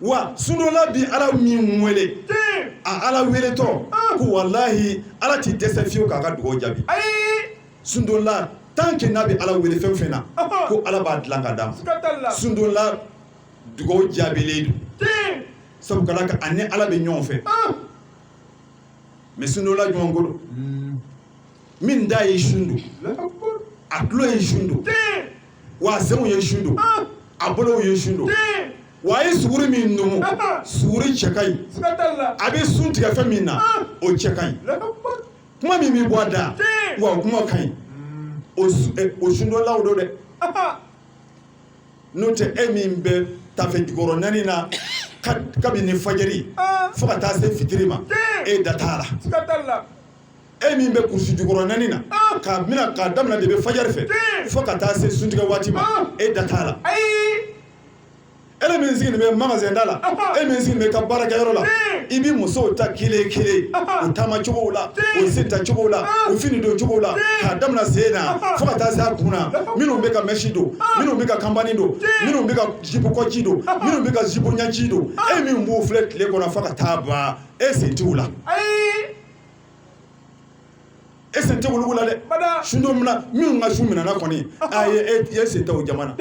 wa sundonla bi ala min wele a ala weletɔ ko walahi ala tɛ dɛsɛ fiyewu k'a ka dugawu jaabi sundonla tan kɛ n'a bɛ ala wele fɛn fɛn na ko ala b'a dilan ka d'a ma sundonla dugawu jaabilen don sabu ka da a kan ale ni ala bɛ ɲɔgɔn fɛ mɛ sundonla jumɛn ko don min da ye sun don a tulo ye sun don wa a senw ye sun don a bolow ye sun don wa a ye suguri min dumu suguri cɛ ka ɲi a bɛ sun tigɛ fɛn min na o cɛ ka ɲi kuma min bɛ bɔ a da la o kuma ka ɲi o su- eh, o sundonlaw don dɛ n'o tɛ e min bɛ tafe jukɔrɔ nɛni na ka- kabini fajiri fo ka taa se fitiri ma e da t'a la e min bɛ kurusi jukɔrɔ nɛni na k'a daminɛ depi fajari fɛ fo ka taa se suntigɛ waati ma e da t'a la e min sigilen bɛ magasɛn da la e min sigilen bɛ i ka baarakɛyɔrɔ la i bɛ musow ta kelen kelen u taama cogo la u sen ta cogo la u fini don cogo la k'a daminɛ sen na fo ka taa se kun na minnu bɛ ka mɛsi don minnu bɛ ka kanban don minnu bɛ ka jibu kɔji don minnu bɛ ka jiboyanci don e min b'u filɛ tile kɔnɔ fo ka taa ban e sen t'a la E sen tɛ olu la dɛ sundonla minnu ka sun minɛna kɔni e sen tɛ o jama na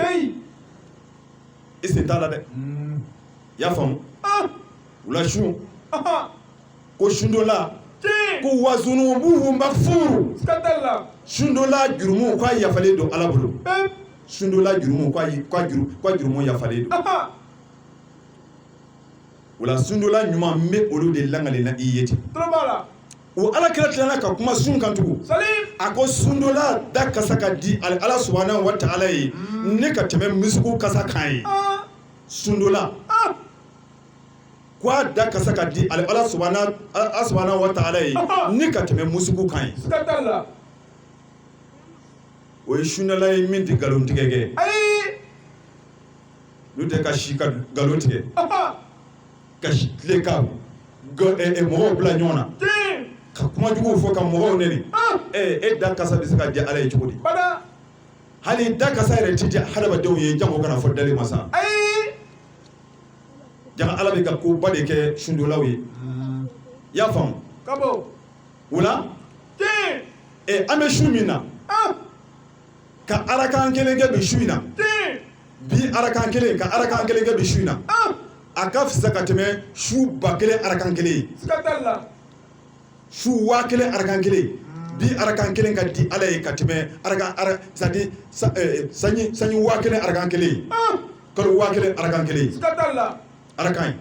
e sen t'a la dɛ i y'a faamumu wula su ko sundonla ko wa zunubuhu magfuru sundonla jurumu ka yafalen don ala bolo sundonla jurumu yafalen don wala sundola ɲuman n bɛ olu de lakale na i ye ten o ala kira tilala ka kuma sun kan tugun a ko sundola da kasa ka di ala subanahu wa taala ye ne ka tɛmɛ misiku kasa kan ye sundola ka da kasa ka di ala subanahu wa taala ye ne ka tɛmɛ misiku kan ye o ye sundola ye min tɛ nkalon tigɛ n'o tɛ ka si ka nkalon tigɛ ka tilen ka mɔgɔw bila ɲɔgɔn na ka kumajugu fɔ ka mɔgɔw neni e da kasa bɛ se ka diya ala ye cogo di hali da kasa yɛrɛ tɛ diya adamadenw ye janko ka na fɔ dali masa jama ala bɛ ka ko ba de kɛ sundolaw ye i y'a faamu wala an bɛ su min na ka arakan kelen kɛ bi su in na bi arakan kelen ka arakan kelen kɛ bi su in na a ka fisa ka tɛmɛ su ba kelen arakan kelen ye su waa kelen arakan kelen bi arakan kelen ka di ala ye ka tɛmɛ arakan ara sadi sanji sanji waa kelen arakan kelen ye kalo waa kelen arakan kelen ye arakan ye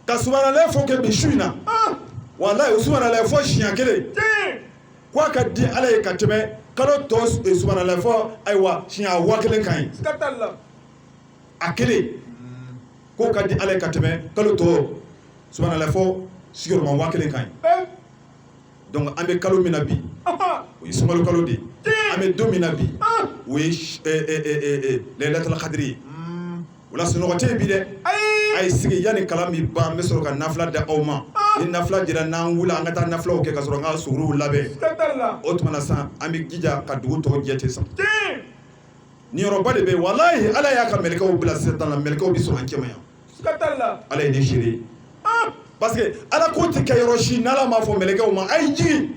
ka subanalahi fɔ kɛ bi su in na walayi o subanalahi fɔ siɲɛ kelen k' a ka di ala ye ka tɛmɛ kalo tɔ subanalahi fɔ ayiwa siɲɛ waa kelen kan ye a kelen k'o ka di ala ye ka tɛmɛ kalo tɔ subanalahi fɔ sigiyɔrɔma waa kelen kan ye donc an bɛ kalo min na bi o ye sumaworo kalo de an bɛ don min na bi o ye layilatul kadiri ye wala sunɔgɔ tɛ yen bi dɛ, ayi, a ye sigi yani kalan bɛ ban n bɛ sɔrɔ ka nafila di aw ma, ni nafila jirala an wulila an ka taa nafilaw kɛ ka sɔrɔ an ka suguriw labɛn, siga t'a la, o tuma na sa an bɛ jija ka dugu tɔ jɛ ten sa, tiɲɛ, niyɔrɔba de bɛ yen walahi Ala y'a ka mɛlɛkɛw bila siga t'a la mɛlɛkɛw bɛ sɔrɔ an cɛma yan, siga t'a la, Ala ye ne seere ye, an, parce que Ala ko tɛ kɛ yɔrɔ si n'Ala m'a fɔ mɛlɛkɛw ma a ye jigin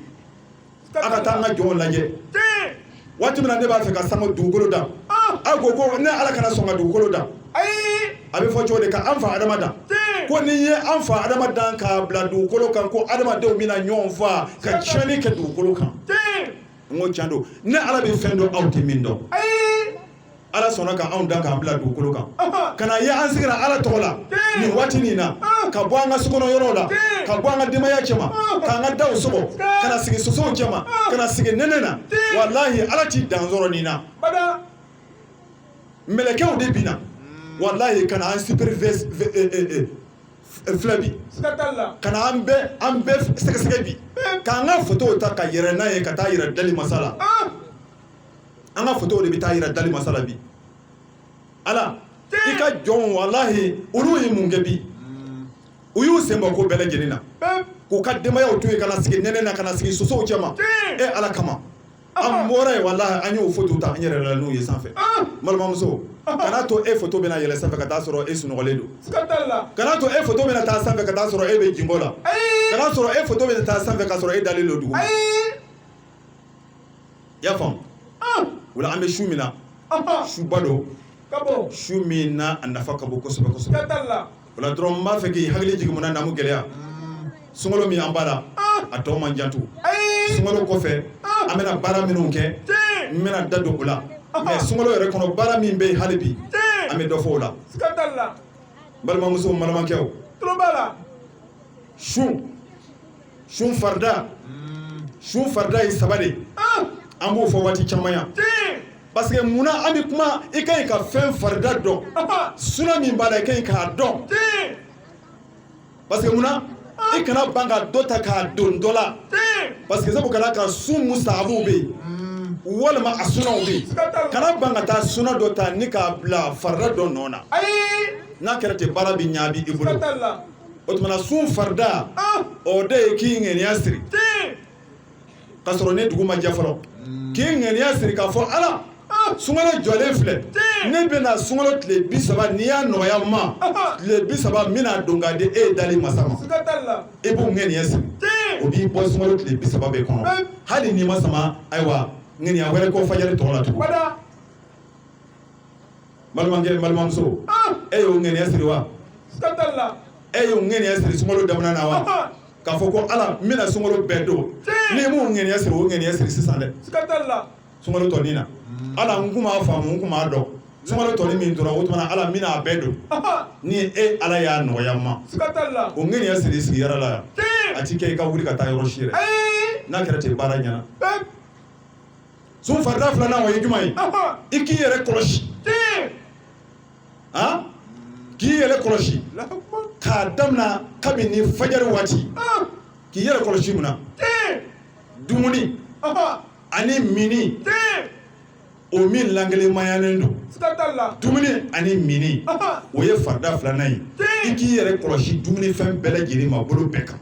aw ka taa n ka jɔnw lajɛ waati min na ne b'a fɛ ka san ni dugukolo da aw ko ko ne ala kana sɔn ka dugukolo da a bɛ fɔ cogo di ka an fa adama dan ko n'i ye an fa adama dan k'a bila dugukolo kan ko adamadenw bɛna ɲɔgɔn fa ka tiɲɛni kɛ dugukolo kan n ko can don ne ala bɛ fɛn dɔn aw tɛ min dɔn ala sɔnna ka anw da k'an bila dugukolo kan ka n'a ye an sigira ala tɔgɔ la nin waati nin na ka bɔ an ka sokɔnɔ yɔrɔw la ka bɔ an ka denbaya cɛma k'an ka daw sɔgɔ ka na sigi sosow cɛma ka na sigi nɛnɛ na walahi ala t'i dan sɔrɔ nin na mɛlɛkɛw de bɛna walahi ka na an supervise filɛ bi ka na an bɛɛ an bɛɛ sɛgɛsɛgɛ bi k'an ka fotow ta ka yɛlɛ n'a ye ka taa a yira dali masa la an ka fotow de bɛ taa jira dali masa la bi ala i ka jɔn walahi olu ye mun kɛ bi u y'u senbɔ ko bɛɛ lajɛlen na k'u ka denbayaw to yen ka na sigi nɛnɛ na ka na sigi sosow cɛma e ala kama an bɔra yen walahi an y'o foto ta an yɛlɛla n'u ye sanfɛ balimamuso kana to e foto bɛna yɛlɛ sanfɛ ka taa sɔrɔ e sunɔgɔlen don kana to e foto bɛna taa sanfɛ ka taa sɔrɔ e bɛ jingɔ la kana sɔrɔ e foto bɛna taa sanfɛ ka sɔrɔ e dalen don dugu i y'a faamu wala an bɛ su min na suba don su min na a nafa ka bon kosɛbɛ kosɛbɛ dɔrɔn n b'a fɛ k'i hakili jigin mun na namu gɛlɛya sunkalo min an b'a la a tɔ man jan tun sunkalo kɔfɛ an bɛna baara minnu kɛ n bɛna da don o la mɛ sunkalo yɛrɛ kɔnɔ baara min bɛ yen hali bi an bɛ dɔ fɔ o la balimamuso balimakɛ la su sun farida sun farida ye saba de an b'o fɔ waati caman yan parce que munna an bɛ kuma i ka ɲi ka fɛn farida dɔn suna min b'a la i ka ɲi k'a dɔn parce que munna i kana ban ka dɔ ta k'a don dɔ la parce que sabu k'ala ka sun musaabuw bɛ yen walima a sunaw bɛ yen kana ban ka taa suna dɔ ta ni k'a bila farida dɔ nɔ na n'a kɛra ten baara bɛ ɲagami i bolo o tuma sun farida o de ye k'i ŋaniya siri ka sɔrɔ ne dugu ma jɛ fɔlɔ k'i ŋaniya siri k'a fɔ ala sunkalo jɔlen filɛ ne bɛna sunkalo tile bi saba n'i y'a nɔgɔya n ma tile bi saba n bɛna don k'a di e dali masa ma i b'o ŋaniya siri o b'i bɔ sunkalo tile bi saba bɛɛ kɔnɔ hali n'i ma sama ayiwa ŋaniya wɛrɛ ko fajiri tɔgɔ la tugun balimakɛ balimamuso e y'o ŋaniya siri wa e y'o ŋaniya siri sunkalo daminɛ na wa k'a fɔ ko ala n bɛna sunkalo bɛɛ don n'i m'o ŋaniya siri o ŋaniya siri sisan dɛ sunkalo tɔnin na ala n kun m'a faamu n kun m'a dɔn sunkalo tɔnin min tora o tuma ala n bɛna a bɛɛ don ni e ala y'a nɔgɔya n ma o ŋaniya siri sigiyɔrɔ la yan a ti kɛ i ka wuli ka taa yɔrɔ si yɛrɛ n'a kɛra ten baara ɲɛna sun farida filanan o ye jumɛn ye i k'i yɛrɛ kɔlɔsi k'i yɛrɛ kɔlɔsi k'a daminɛ kabini fajari waati k'i yɛrɛ kɔlɔsi mun na dumuni ani minni o min lankɛnɛmayanen don dumuni ani minni o ye farida filanan ye i k'i yɛrɛ kɔlɔsi dumunifɛn bɛɛ lajɛlen ma bolo bɛɛ kan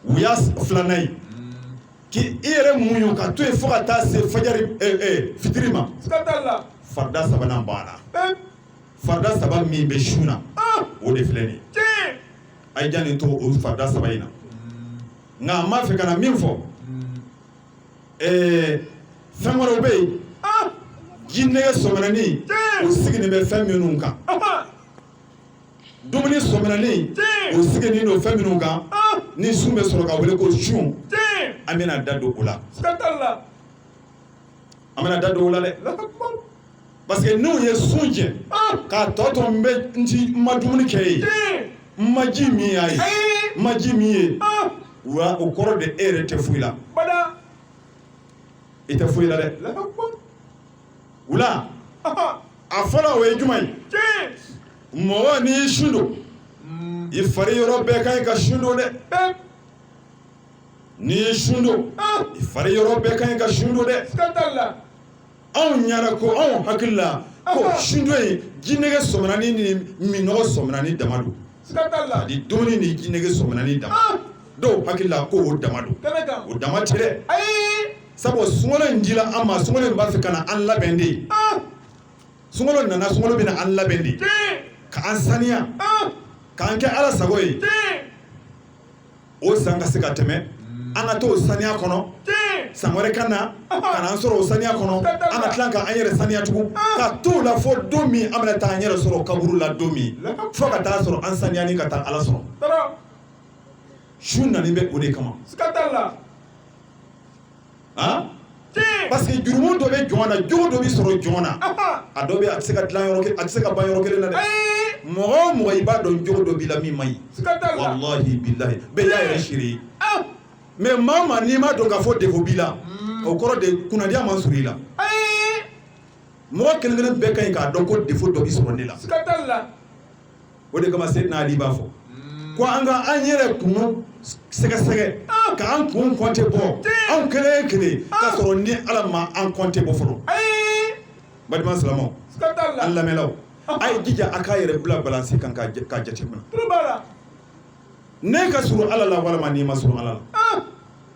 o y'a filan ye k' i yɛrɛ muɲu ka to yen fo ka taa se fitiri ma farida sabanan banna farida saba min bɛ sun na o de filɛ nin a ye janto o farida saba in na nka an b'a fɛ ka min fɔ fɛn wɛrɛ bɛ yen ji nege sɔminani o sigilen bɛ fɛn minnu kan dumuni sɔminani o sigilen don fɛn minnu kan ah! ni sun bɛ sɔrɔ ka wele ko sun an bɛna da don o la an bɛna da don o la dɛ parce que n'u ye sun jɛ ah! k'a tɔ to n bɛ n ci n ma dumuni kɛ ye n ma ji min y'a ye n ma ji min ye ah! wa o kɔrɔ de e yɛrɛ tɛ foyi la i tɛ foyi la dɛ wula a fɔlɔ o ye jumɛn ye mɔgɔ n'i ye sun don mm. i fari yɔrɔ bɛɛ ka ɲi ka sun don dɛ n'i ye sun don ah. i fari yɔrɔ bɛɛ ka ɲi ka sun don dɛ anw ɲɛna ko anw hakili la ko ah. sun don ye ji nege sɔminani ni minnɔgɔ sɔminani dama don ani dumuni ni ji nege sɔminani dama ah. dɔw hakili la ko o dama don o dama tɛ dɛ sabu sun in jigila an ma sun in b'a fɛ ka na an labɛn de ye ah! sun nana sun bɛ na an labɛn de ka an saniya ah! k'an kɛ ala sago ye o san ka se ka tɛmɛ an ka to o saniya kɔnɔ san wɛrɛ ka na ah! ka na an sɔrɔ o saniya kɔnɔ an ka tila ka an yɛrɛ saniya tugun ka t'o la fo don min an bɛna taa an yɛrɛ sɔrɔ kaburu la don min fo ka taa sɔrɔ an saniyalen ka taa ala sɔrɔ sun nalen bɛ o de kama parce que jurumu dɔ bɛ jɔn na jogo dɔ bɛ sɔrɔ jɔn na a dɔ bɛ a tɛ se ka dilan yɔrɔ a tɛ se ka ban yɔrɔ kelen na dɛ mɔgɔ mɔgɔ i b'a dɔn jogo dɔ b'i la min man ɲi walahi bilahi bɛɛ y'a yɛrɛ seere ye mais maa maa n'i m'a dɔn k'a fɔ défaut b'i la hmm. o kɔrɔ de kunnadiya man surun i la mɔgɔ kelen kelen bɛɛ ka ɲi k'a dɔn ko défaut dɔ bɛ sɔrɔ ne la o de kama seyidina ali b'a fɔ ko an ka an yɛrɛ kun sɛgɛsɛgɛ k'an kun kɔnte bɔ anw kelen kelen k'a sɔrɔ ni ala ma an kɔnte bɔ fɔlɔ balima silamɛw an lamɛnlaw a ye jija a k'a yɛrɛ bila balansi kan ka jate minɛ ne ka surun ala la walima ne man surun ala la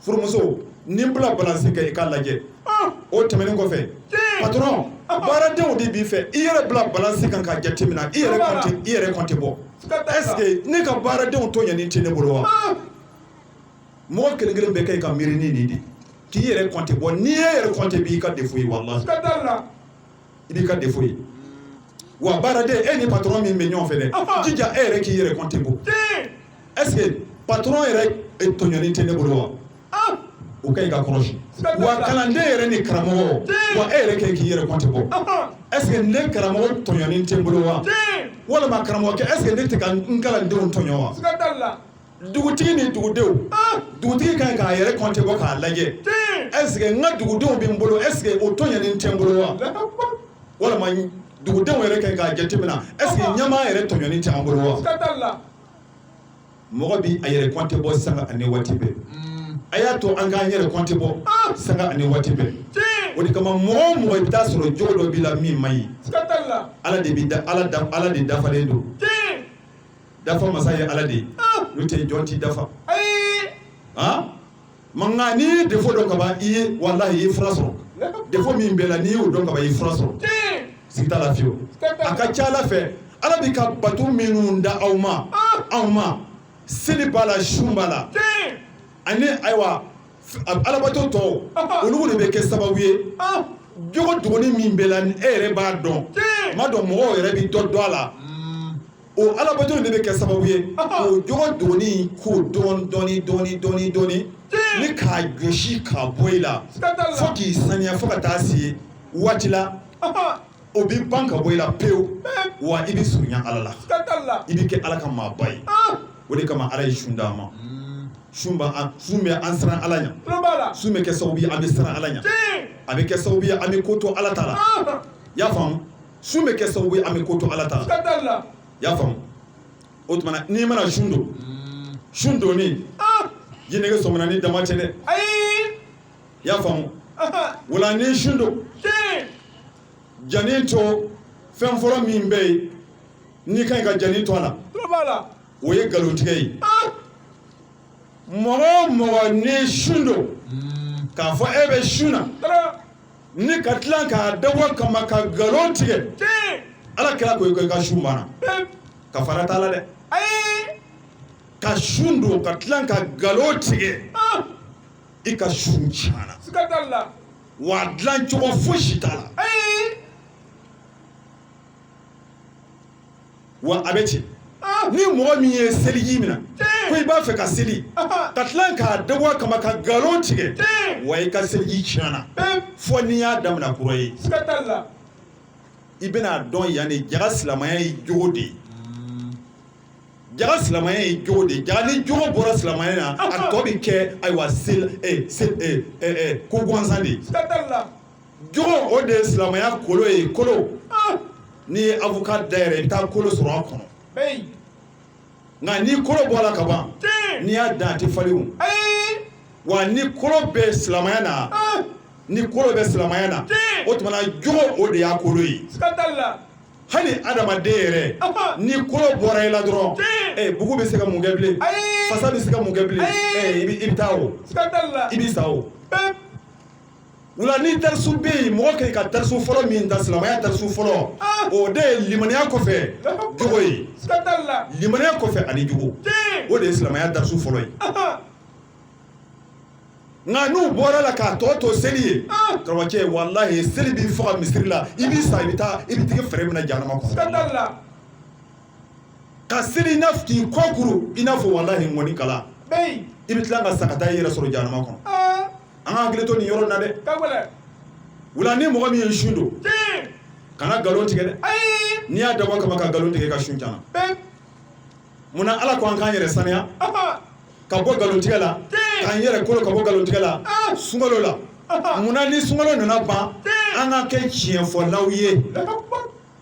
furumuso n'i bila balansi kan i k'a lajɛ o tɛmɛnen kɔfɛ patron baaradenw de b'i fɛ i yɛrɛ bila balansi kan ka jate minɛ i yɛrɛ i yɛrɛ kɔnte bɔ est-ce que ne ka baaradenw tɔɲɔni tɛ ne bolo wa mɔgɔ kelen kelen bɛɛ ka ɲi ka miiri ni nin de k'i yɛrɛ kɔnte bɔ n'i y'i yɛrɛ kɔnte bɔ i ka défaut ye wa i b'i ka defo ye wa baaraden e ni patɔrɔn min bɛ ɲɔgɔn fɛ jija e yɛrɛ k'i yɛrɛ kɔnte bɔ ɛseke patɔrɔn yɛrɛ tɔɲɔni tɛ ne bolo wa o ka i k'a kɔlɔsi wa kalanden yɛrɛ ni karamɔgɔ wa e yɛrɛ kɛ k'i yɛrɛ kɔnte bɔ ɛseke ne karamɔgɔ tɔɲɔni tɛ n bolo wa walima karamɔgɔ kɛ ɛseke ne tɛ ka n kalandenw tɔɲɔ wa dugutigi ni dugudenw dugutigi ka k'a yɛrɛ kɔnte bɔ k'a lajɛ ɛseke n ka dugudenw bɛ n bolo ɛseke o tɔɲɔni tɛ n bolo wa walima dugudenw yɛrɛ kɛ k'a jateminɛ ɛseke ɲɛmaa yɛrɛ tɔɲɔni tɛ an bolo wa mɔgɔ bɛ a yɛrɛ kɔnte bɔ sanga ani waati bɛɛ mm. a y'a to an k'an yɛrɛ kɔnte bɔ sanga ani waati bɛɛ o de kama mɔgɔ o mɔgɔ i bɛ taa sɔrɔ jogo dɔ b'i la min man ɲi ala de bɛ da ala da ala de dafalen don dafa masa ye ala de ye n'o tɛ jɔn tɛ dafa han mankan n'i ye defo dɔn kaban i ye walahi i ye fura sɔrɔ defo min b'i la n'i y'o dɔn kaban i ye fura sɔrɔ siga t'a la fiyewu a ka ca ala fɛ ala bɛ ka bato minnu da an ma an ma seli b'a la sun b'a la ani ayiwa alabato tɔw olu de bɛ kɛ sababu ye jogo dogoni min b'i la ni e yɛrɛ b'a dɔn m'a dɔn mɔgɔw yɛrɛ bɛ dɔ dɔn a la o alabato de bɛ kɛ sababu ye o jogo dogoni ko dɔn dɔɔni dɔɔni dɔɔni dɔɔni ni k'a jɔsi k'a bɔ i la fo k'i saniya fo ka taa se waati la o bɛ ban ka bɔ i la pewu wa i bɛ surunya ala la i bɛ kɛ ala ka maaba ye o de kama ala ye sun da an ma sun bɛ an siran ala ɲɛ sun bɛ kɛ sababu an bɛ siran ala ɲɛ a bɛ kɛ sababu an bɛ ko to ala ta la i y'a faamu sun bɛ kɛ sababu an bɛ ko to ala ta la y'a faamu o tuma n'i mana sun don mm. sun don ji nege sɔmina ni dama tɛ dɛ ayi y'a faamu wala ni sun don jan i to fɛn fɔlɔ min bɛ yen n'i ka ɲi ka jan i to a la o ye nkalontigɛ ye ah! mɔgɔ o mɔgɔ ni sun don mm. k'a fɔ e bɛ sun na ni ka tila k'a dabɔ a kama ka nkalon tigɛ ala kira ko i ka sun banna kafara t'a la dɛ ka sun don ka tila ka nkalon tigɛ i ka sun tiɲɛna wa dilancogo foyi si t'a la wa a bɛ ten ni mɔgɔ min ye seliji minɛ ko i b'a fɛ ka seli ka tila k'a dabɔ a kama ka nkalon tigɛ wa i ka seliji tiɲɛna fo n'i y'a daminɛ kura ye i bɛna'a dɔn yan ni jaga silamɛya ye jogo de ye jaga silamɛya ye jogo de jaga ni jogo bɔra silamɛya na a tɔ bɛ kɛ ayiwa ko gansan de ye jogo o de ye silamɛya kolo ye kolo n'i ye avoka da yɛrɛ i bɛ taa kolo sɔrɔ a kɔnɔ nka ni kolo bɔ la ka ban n'i y'a dan tɛ fa wa ni kolo bɛ silamɛya na ni kolo bɛ silamɛya na o tuma na jogo o de y'a kolo ye hali adamaden yɛrɛ ni kolo bɔra i la dɔrɔn bu bɛ se ka mun kɛ bilen fasa bɛ se ka mun kɛ bilen i bɛ taa o i bɛ sa o wala ni darisu bɛ yen mɔgɔ kan ka darisu fɔlɔ min ta silamɛya darisu fɔlɔ o de ye limaniya kɔfɛ jogo ye limaniya kɔfɛ ani jogo o de ye silamɛya darisu fɔlɔ ye nka n'o bɔra a la k'a tɔ to seli ye karamɔgɔcɛ walayi seli b'i faga misiri la i bɛ sa i bɛ taa i bɛ tigi fɛrɛ minɛ jahanama ka seli i k'i kɔ kuru i n'a fɔ walahi nkɔni kala i bɛ tila ka sa ka taa i yɛrɛ sɔrɔ jahanama kɔnɔ an k'an hakili to nin yɔrɔ in na dɛ wula ni mɔgɔ min ye sun don kana nkalon tigɛ dɛ n'i y'a dabɔ kama ka nkalon tigɛ ka sun jana munna Ala ko an k'an yɛrɛ saniya ka bɔ nkalon tigɛ la k'an yɛrɛ kolo ka bɔ nkalon tigɛ la sunkalo la munna ni sunkalo nana ban an ka kɛ tiɲɛfɔlaw ye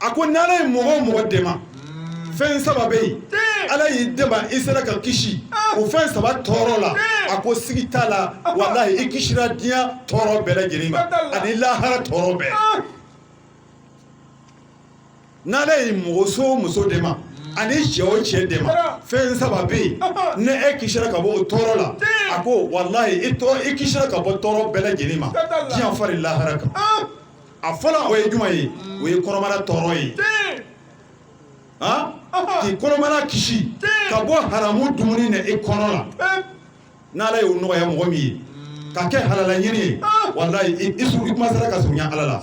a ko n'ala ye mɔgɔ o mɔgɔ dɛmɛ fɛn saba bɛ yen ala y'i dɛmɛ i sera ka kisi o fɛn saba tɔɔrɔ la a ko sigi t'a la walayi i kisira diɲɛ tɔɔrɔ bɛɛ lajɛlen ma ani lahara tɔɔrɔ bɛɛ n'ala ye muso o muso dɛmɛ ani cɛ o cɛ dɛmɛ fɛn saba bɛ yen n'i kisira ka bɔ o tɔɔrɔ la a ko walayi i kisira ka bɔ tɔɔrɔ bɛɛ lajɛlen ma diɲɛ fara lahara kan a fɔlɔ o ye jumɛn ye o ye kɔnɔbara tɔɔrɔ ye k'i kɔnɔbara kisi ka bɔ haramu dumuni na i kɔnɔ la n'ala y'o nɔgɔya mɔgɔ min ye ka kɛ halala ɲini ye walayi i kɔmasera ka surunya ala la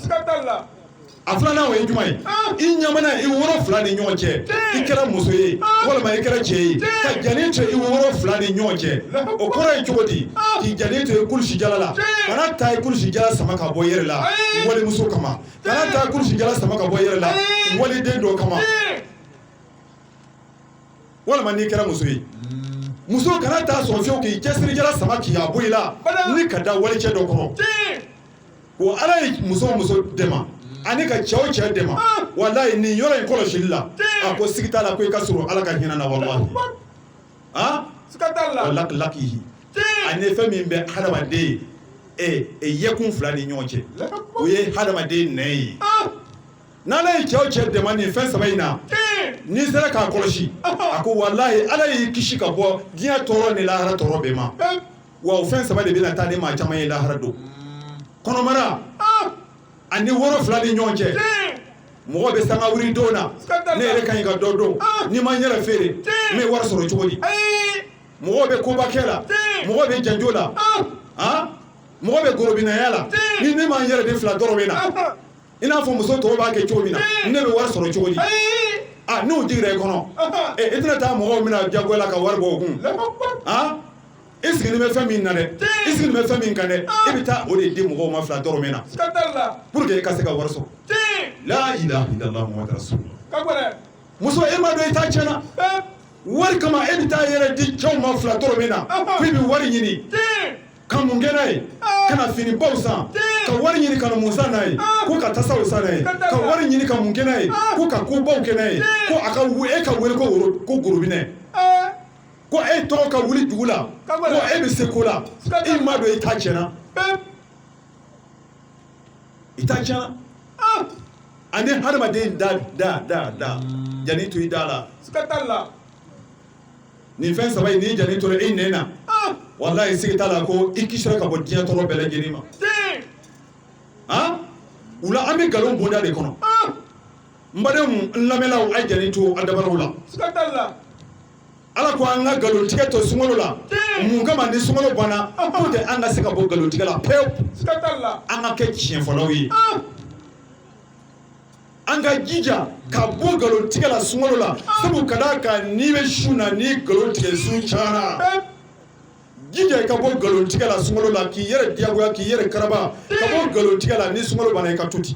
a filanan o ye jumɛn ye i ɲamana i woro fila ni ɲɔgɔn cɛ i kɛra muso ye walima i kɛra cɛ ye k'i janto i woro fila ni ɲɔgɔn cɛ o kɔrɔ ye cogo di k'i janto i kulusi jala la kana taa i kulusi jala sama kan ka bɔ yɛrɛ la walimuso kama kana taa kurusi jala sama ka bɔ yɛrɛ la waliden dɔ kama walima n'i kɛra muso ye muso kana taa sɔn fiyewu k'i cɛsiri jala sama k'a bɔ i la ni ka da walicɛ dɔ kɔrɔ ko ala ye muso o muso dɛmɛ ani ka cɛ o cɛ dɛmɛ walayi nin yɔrɔ in kɔlɔsili la a ko sigi t'a la ko i ka surun ala ka hinɛ na walahi laki ani fɛn min bɛ hadamaden ye yekun fila ni ɲɔgɔn cɛ o ye hadamaden nɛn ye n' ala ye cɛ o cɛ dɛmɛ nin fɛn saba in na n'i sera k'a kɔlɔsi a ko walayi ala y'i kisi ka bɔ diɲɛ tɔɔrɔ ni lahara tɔɔrɔ bɛɛ ma wa o fɛn saba de bɛna taa ni maa caman ye lahara don kɔnɔbara ani woro fila ni ɲɔgɔn cɛ mɔgɔ bɛ sangawuli don na ne yɛrɛ ka ɲi ka dɔ don ah. ni n ma n yɛrɛ feere n bɛ wari sɔrɔ cogo di mɔgɔ bɛ kobakɛ la mɔgɔ bɛ janjo la ah. Ah. mɔgɔ bɛ gorobinaya la ni ne ma n yɛrɛ di fila dɔrɔmɛ na i n'a fɔ muso tɔw b'a kɛ cogo min na ne bɛ wari sɔrɔ cogo di a n'o jigira i kɔnɔ e tɛna taa mɔgɔw minɛ jagoya la ka wari bɔ u kun e sigilen bɛ fɛn min na dɛ i sigilen bɛ fɛn min kan dɛ e bɛ taa o de di mɔgɔw ma fila dɔrɔmɛ na pour que e ka se ka wari sɔrɔ la ilaha illallah muhamadu rasulullah muso e m'a dɔn i ta tiɲɛna wari kama e bɛ taa i yɛrɛ di cɛw ma fila dɔrɔmɛ na ko i bɛ wari ɲini ka mun kɛ n'a ye ka na finibaw san ka wari ɲini ka na mun san n'a ye ko ka tasaw san n'a ye ka wari ɲini ka mun kɛ n'a ye ko ka kobaw kɛ n'a ye ko a ka e ka wele ko woro ko gorobinɛ ko e tɔgɔ ka wuli dugu la e bɛ se ko la e m'a dɔn i ta tiɲɛna i ta tiɲɛna ah! ani hadamaden da da da da jani to i da la siga t'a la nin fɛn saba in n'i jani tora i nɛn na ah! walayi siga t'a la ko i kisira ka bɔ diɲɛ tɔɔrɔ bɛɛ lajɛlen ma ah! o la an bɛ nkalon bonda de kɔnɔ n badenw n lamɛnlaw a ye jani to a dabaraw la siga t'a la Ala ko an ka nkalontigɛ to sun la mun kama ni sun banna an an ka se ka bɔ nkalontigɛ la pewu an ka kɛ tiɲɛfɔlaw ye an ka jija ka bɔ nkalontigɛ la sun la sabu ka bɛ sun na ni nkalon tigɛ sun cɛn jija ka bɔ nkalontigɛ la sun la k'i yɛrɛ diyagoya k'i yɛrɛ karaba ka bɔ nkalontigɛ la ni sun i ka to ten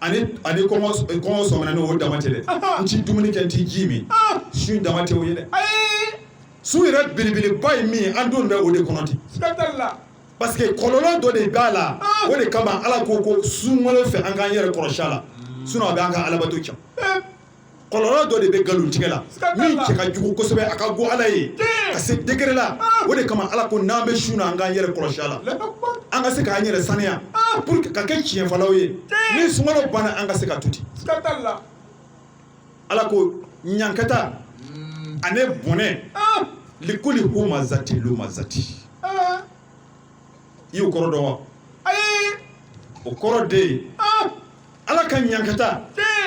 ani kɔngɔ sun minɛni o dama tɛ dɛ n ti dumuni kɛ n ti ji min sun dama tɛ o ye dɛ sun yɛrɛ belebeleba ye min an donnen bɛ o de kɔnɔ ten parce que kɔlɔlɔ dɔ de b'a la o de kama ala ko ko sunkalo fɛ an k'an yɛrɛ kɔlɔsi a la sinon a bɛ an ka alabato cɛn kɔlɔlɔ dɔ de bɛ nkalontigɛ la min cɛ ka jugu kosɛbɛ a ka go ala ye ka se degré la ah! o de kama ala ko n'an bɛ sun na an k'an yɛrɛ kɔlɔsi a la an ka se k'an yɛrɛ saniya ah! pour ka kɛ tiɲɛfɔlaw ye ni sunkalo banna an ka se ka to ten ala ko ɲankata hmm. ani bɔnɛ ah! likuli humazati lumazati i y'o kɔrɔ dɔn wa o kɔrɔ de ye ala ka ɲangata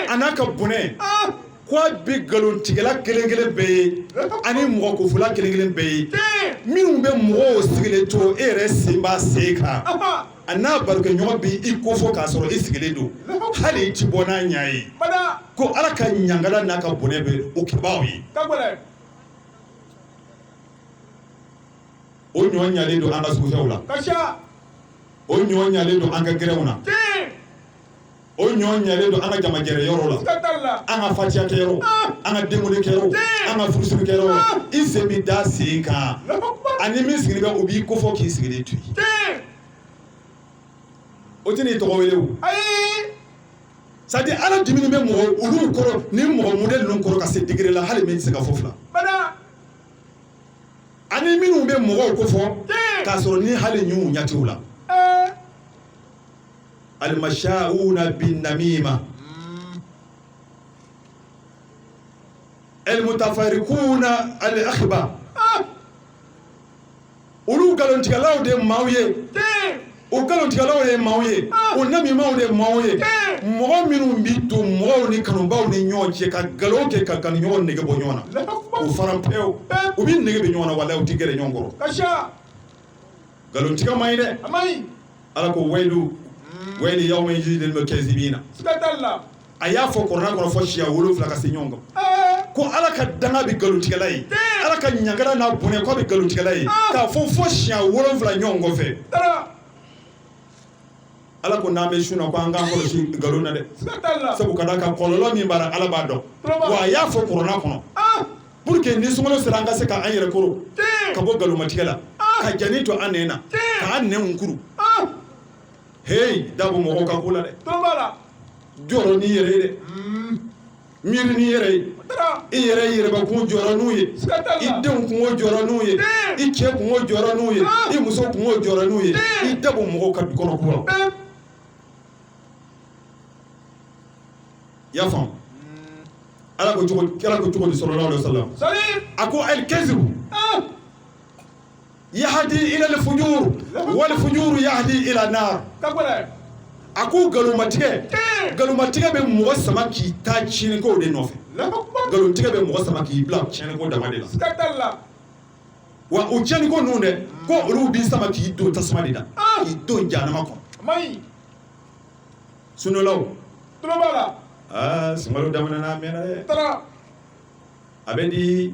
a n'a ka bɔnɛ k' a bɛ nkalontigɛla kelenkelen bɛɛ ye ani mɔgɔ kofɔla kelenkelen bɛɛ ye minnu bɛ mɔgɔw sigilen to e yɛrɛ sen b'a sen kan a n'a barokɛɲɔgɔn bɛ i ko fɔ k'a sɔrɔ i sigilen don hali i tɛ bɔ n'a ɲɛ ye ko ala ka ɲangata n'a ka bɔnɛ bɛ o kɛbaaw ye o nɔgɔyalen don an ka sugufiyɛw la o nɔgɔyalen don an ka gɛrɛnw na o nɔgɔyalen don an ka jamajɛrɛ yɔrɔ la an ka fatiya kɛ yɔrɔ an ka denkunli kɛ yɔrɔ an ka furusiri kɛ yɔrɔ i sen bɛ d'a sen kan ani min sigilen bɛ o b'i ko fɔ k'i sigilen to yen o tɛn'i tɔgɔ wele o c'est à dire ala diminen bɛ mɔgɔ olu kɔrɔ ni mɔgɔ mɔdɛli ninnu kɔrɔ ka se degré la hali min tɛ se ka fɔ fila ani minnu bɛ mɔgɔw ko fɔ k'a sɔrɔ ni hali n'u ɲɛ t' u la alimasa'una bi na ma emutarikun na al-ahiba olu nkalontigɛlaw de maaw ye o nkalontigɛlaw ye maaw ye o namimaw de maaw ye mɔgɔ minnu bɛ to mɔgɔw ni kanubaaw ni ɲɔgɔn cɛ ka nkalon kɛ ka kanuɲɔgɔn nege bɔ ɲɔgɔn na o fana pewu u bɛ nege bɔ ɲɔgɔn na wala u tɛ gɛrɛ ɲɔgɔn kɔrɔ nkalontigɛ man ɲi dɛ ala ko wayilu wayilun yawmayizin lil mukazibina a y'a fɔ kuranɛ kɔnɔ fo siɲɛ wolonwula ka se ɲɔgɔn kan eh. ko ala ka danga bɛ nkalontigɛla ye eh. ala ka ɲangata n'a bɔnɛ k'a bɛ nkalontigɛla ye eh. k'a fɔ fo siɲɛ wolonwula ɲɔgɔn kɔfɛ ala ko n'an bɛ sun na ko an k'an kɔlɔsi nkalon na dɛ sabu ka d'a kan kɔlɔlɔ min b'a ala b'a dɔn wa a y'a fɔ kuranɛ kɔnɔ ah. pour que ni sunkalo sera an ka se k'an yɛrɛ koro ka bɔ nkalonmatigɛ la ah. ka jani to an nɛn na k'an nɛn kuru ah. Hey, da bɔ mɔgɔ ka ko la dɛ. Tɔnɔ b'a la. Jɔrɔ n'i yɛrɛ ye dɛ. Hmm. Miiri n'i yɛrɛ ye. I yɛrɛ yɛrɛbakun jɔrɔ n'o ye. Siga t'a la. I denw kunko jɔrɔ n'o ye. Ee! I cɛ kunko jɔrɔ n'o ye. Aa! I muso kunko jɔrɔ n'o ye. Ee! I da bɔ mɔgɔ ka du kɔnɔ ko la. Ee! I y'a faamu? Ala ko cogo di? Kira ko cogo di? Sɔlɔlahu alehi wasalamu. Sɔli! A ko al-kazibu. Aa! yahadi ila le fujuru wali fujuru yahadi ila naar a ko nkalonmatigɛ nkalonmatigɛ bɛ mɔgɔ sama k'i ta tiɲɛnikow de nɔfɛ nkalontigɛ bɛ mɔgɔ sama k'i bila tiɲɛniko dama de la wa o tiɲɛniko ninnu de ko olu b'i sama k'i don tasuma de la k'i don jahanama kɔnɔ sundonnaw tulo b'a la aa sunkalo daminɛna a mɛnna dɛ a bɛ di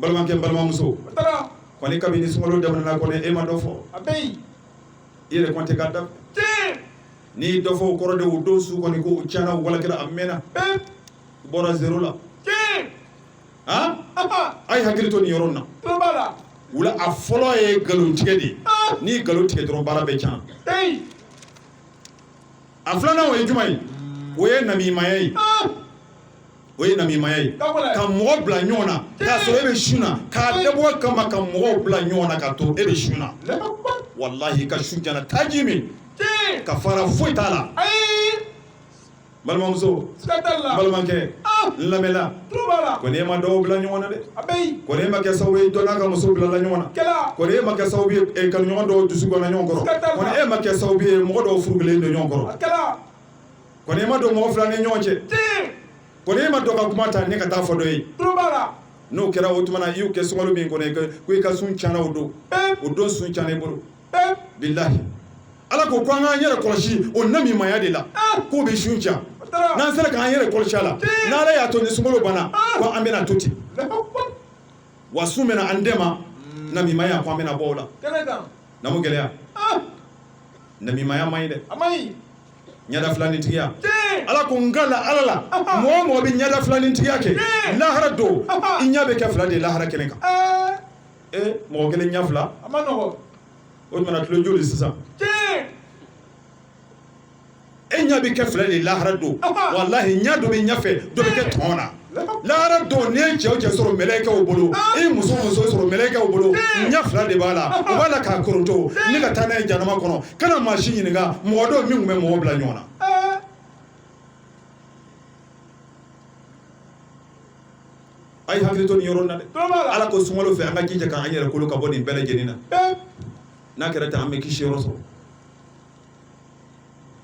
balimakɛ balimamuso kɔni kabini sunkalo daminɛna kɔni e ma dɔ fɔ i yɛrɛ kɔn tɛ ka da ni dɔfɔw kɔrɔ de o don sun kɔni ko tiɲɛna walaki a mɛnna bɔra zero la a ye hakili to nin yɔrɔ na wula a fɔlɔ ye nkalontigɛ de ni nkalon tigɛ dɔrɔn baara bɛɛ tiɲɛna a filanan o ye jumɛn ye o ye namimaya ye o ye namimaya ye ka mɔgɔ bila ɲɔgɔn na k'a sɔrɔ e bɛ sun na k'a dabɔ kama ka mɔgɔw bila ɲɔgɔn na ka to e bɛ sun na walahi i ka sun tiɲɛna taa ji min ka fara foyi t'a la balimamuso balimakɛ n lamɛnla kɔni e ma dɔw bila ɲɔgɔn na dɛ kɔni e ma kɛ sababu ye dɔ n'a ka muso bilala ɲɔgɔn na kɔni e ma kɛ sababu ye eh, kanuɲɔgɔn dɔw dusu gɔnna ɲɔgɔn kɔrɔ kɔni e ma kɛ sababu ye mɔgɔ dɔw furukulen don ɲɔgɔn kɔrɔ kɔni i ma don mɔgɔ fila ni ɲɔgɔn cɛ ten kɔni i ma dɔ ka kuma ta ni ka taa fɔ dɔ ye tulo b'a la n'o kɛra o tuma na i y'o kɛ sunkalo min kɔnɔ i ka ko i ka sun tiɲɛna o don ee o don sun tiɲɛna i bolo ee bilahi ala ko ko an k'an yɛrɛ kɔlɔsi o namimaya de la Ah! k'o bɛ sun tiɲɛ o taara n'an sera k'an yɛrɛ kɔlɔsi a la Tiɲɛ. n'ala y'a to ni sunkalo banna Ah! ko an bɛna to ten lahakuba wa sun bɛna an dɛmɛ namimaya ko an bɛna bɔ o la kɛnɛ kan n'a ma gɛlɛya ah namimaya man ɲi dɛ a man ɲi ɲɛda filanintigiya ala ko n kalila ala la mɔgɔ o mɔgɔ bɛ ɲɛda filanintigiya kɛ lahara don i ɲɛ bɛ kɛ fila de lahara kɛnɛ kan ee mɔgɔ kelen ɲɛ fila o tuma na tulo joli sisan e ɲɛ bɛ kɛ fila de lahara don walahi ɲɛ dɔ bɛ ɲɛfɛ dɔ bɛ kɛ tɔn na lahara don n'i ye cɛ o cɛ sɔrɔ mɛlɛkɛw bolo i ye muso o muso sɔrɔ mɛlɛkɛw bolo ɲɛ fila de b'a la u b'a la k'a koronto ni ka taa n'a ye jahanama kɔnɔ kana maa si ɲininka mɔgɔ don min tun bɛ mɔgɔ bila ɲɔgɔn na a ye hakili to nin yɔrɔ in na dɛ ala ko sunkalo fɛ an ka jija k'an yɛrɛ kolo ka bɔ nin bɛɛ lajɛlen na n'a kɛra ten an bɛ kisi yɔrɔ sɔrɔ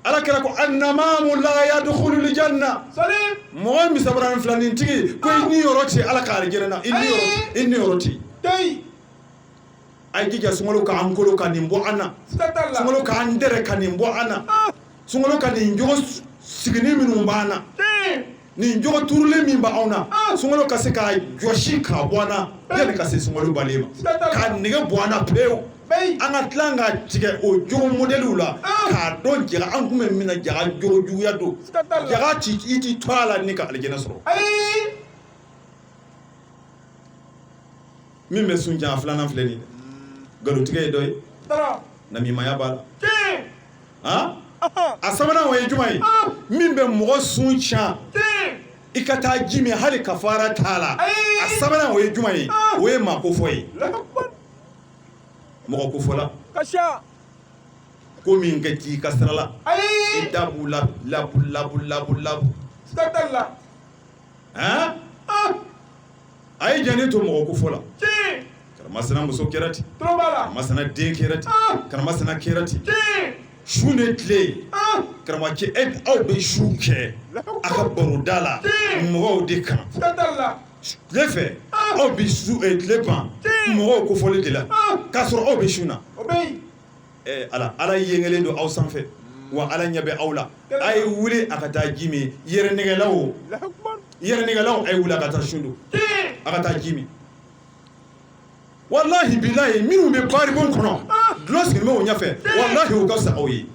Ala kira ko anamamu la yadihulu lijana mɔgɔ misa filanintigi ko i niyɔrɔ tɛ ala ka alijɛnɛ na i niyɔrɔ tɛ a ye jija sunkalo k'an kolo ka nin bɔ an na sunkalo k'an dɛmɛ ka nin bɔ an na sunkalo ka nin jogo sigilen minnu bɛ an na nin jogo turulen min bɛ anw na ah! sunkalo ka se k'a jɔsi k'a bɔ an na eh! yanni ka se sunkalo bannen ma k'a nege bɔ an na pewu an ka tila ka tigɛ o jogo modɛliw la ah! k'a dɔn jaga an tun bɛ min na jaga jogo juguya don jaga i t'i to a la ni ka alijɛnɛ sɔrɔ min bɛ sun tiɲɛ filanan filɛ nin nkalontigɛ ye dɔ ye namimaya b'a la a a sabanan o ye jumɛn ye min bɛ mɔgɔ sun tiɲɛ i ka taa ji min hali kafara t'a la a sabanan o ye jumɛn ye o ye maa ko fɔ ye mɔgɔ ko fɔla ko min kɛ k'i ka sirala i da b'u la labu labu labu labu la a ye janto mɔgɔ ko fɔ la karisa muso kɛra ten maasina den kɛra ten karisa kɛra ten su ni tile karamɔgɔcɛ e aw bɛ su kɛ aw ka baroda la mɔgɔw de kan tile fɛ aw bɛ su tile ban mɔgɔw ko fɔli de la k'a sɔrɔ aw bɛ sun na ala ala jɛngɛlen don aw sanfɛ wa ala ɲɛ bɛ aw la a ye wuli a ka taa ji min yɛrɛnɛgɛlaw yɛrɛnɛgɛlaw a ye wuli a ka taa suman dun a ka taa ji min walahi bilahi minnu bɛ bariw kɔnɔ dɔlɔ sigilen u ɲɛfɛ walahi u ka fisa aw ye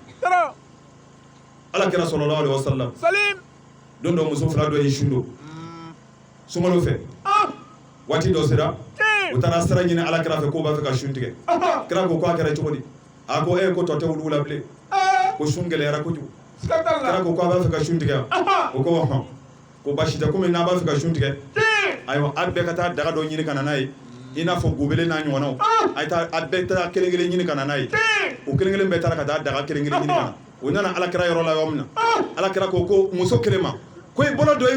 ala kira salalahu alayihi wasalamu don dɔ muso fila dɔ ye sun don sunkalo fɛ waati dɔ sera u taara sira ɲini ala kira fɛ k'o b'a fɛ ka sun tigɛ kira ko k'a kɛra cogo di a ko e ko tɔ tɛ olu la bilen ko sun gɛlɛyara kojugu kira ko k'a b'a fɛ ka sun tigɛ o ko hɔn ko basi tɛ komi n'a b'a fɛ ka sun tigɛ ayiwa a bɛɛ ka taa daga dɔ ɲini ka na n'a ye i n'a fɔ gobele n'a ɲɔgɔnnaw a taa a bɛɛ taa kelen kelen ɲini ka na n'a ye o kelen kelen bɛɛ taara ka taa daga kelen kelen ɲini ka na o nana ala kira yɔrɔ la yɔrɔ min na ala kira ko ko muso kelen ma ko i bolo don i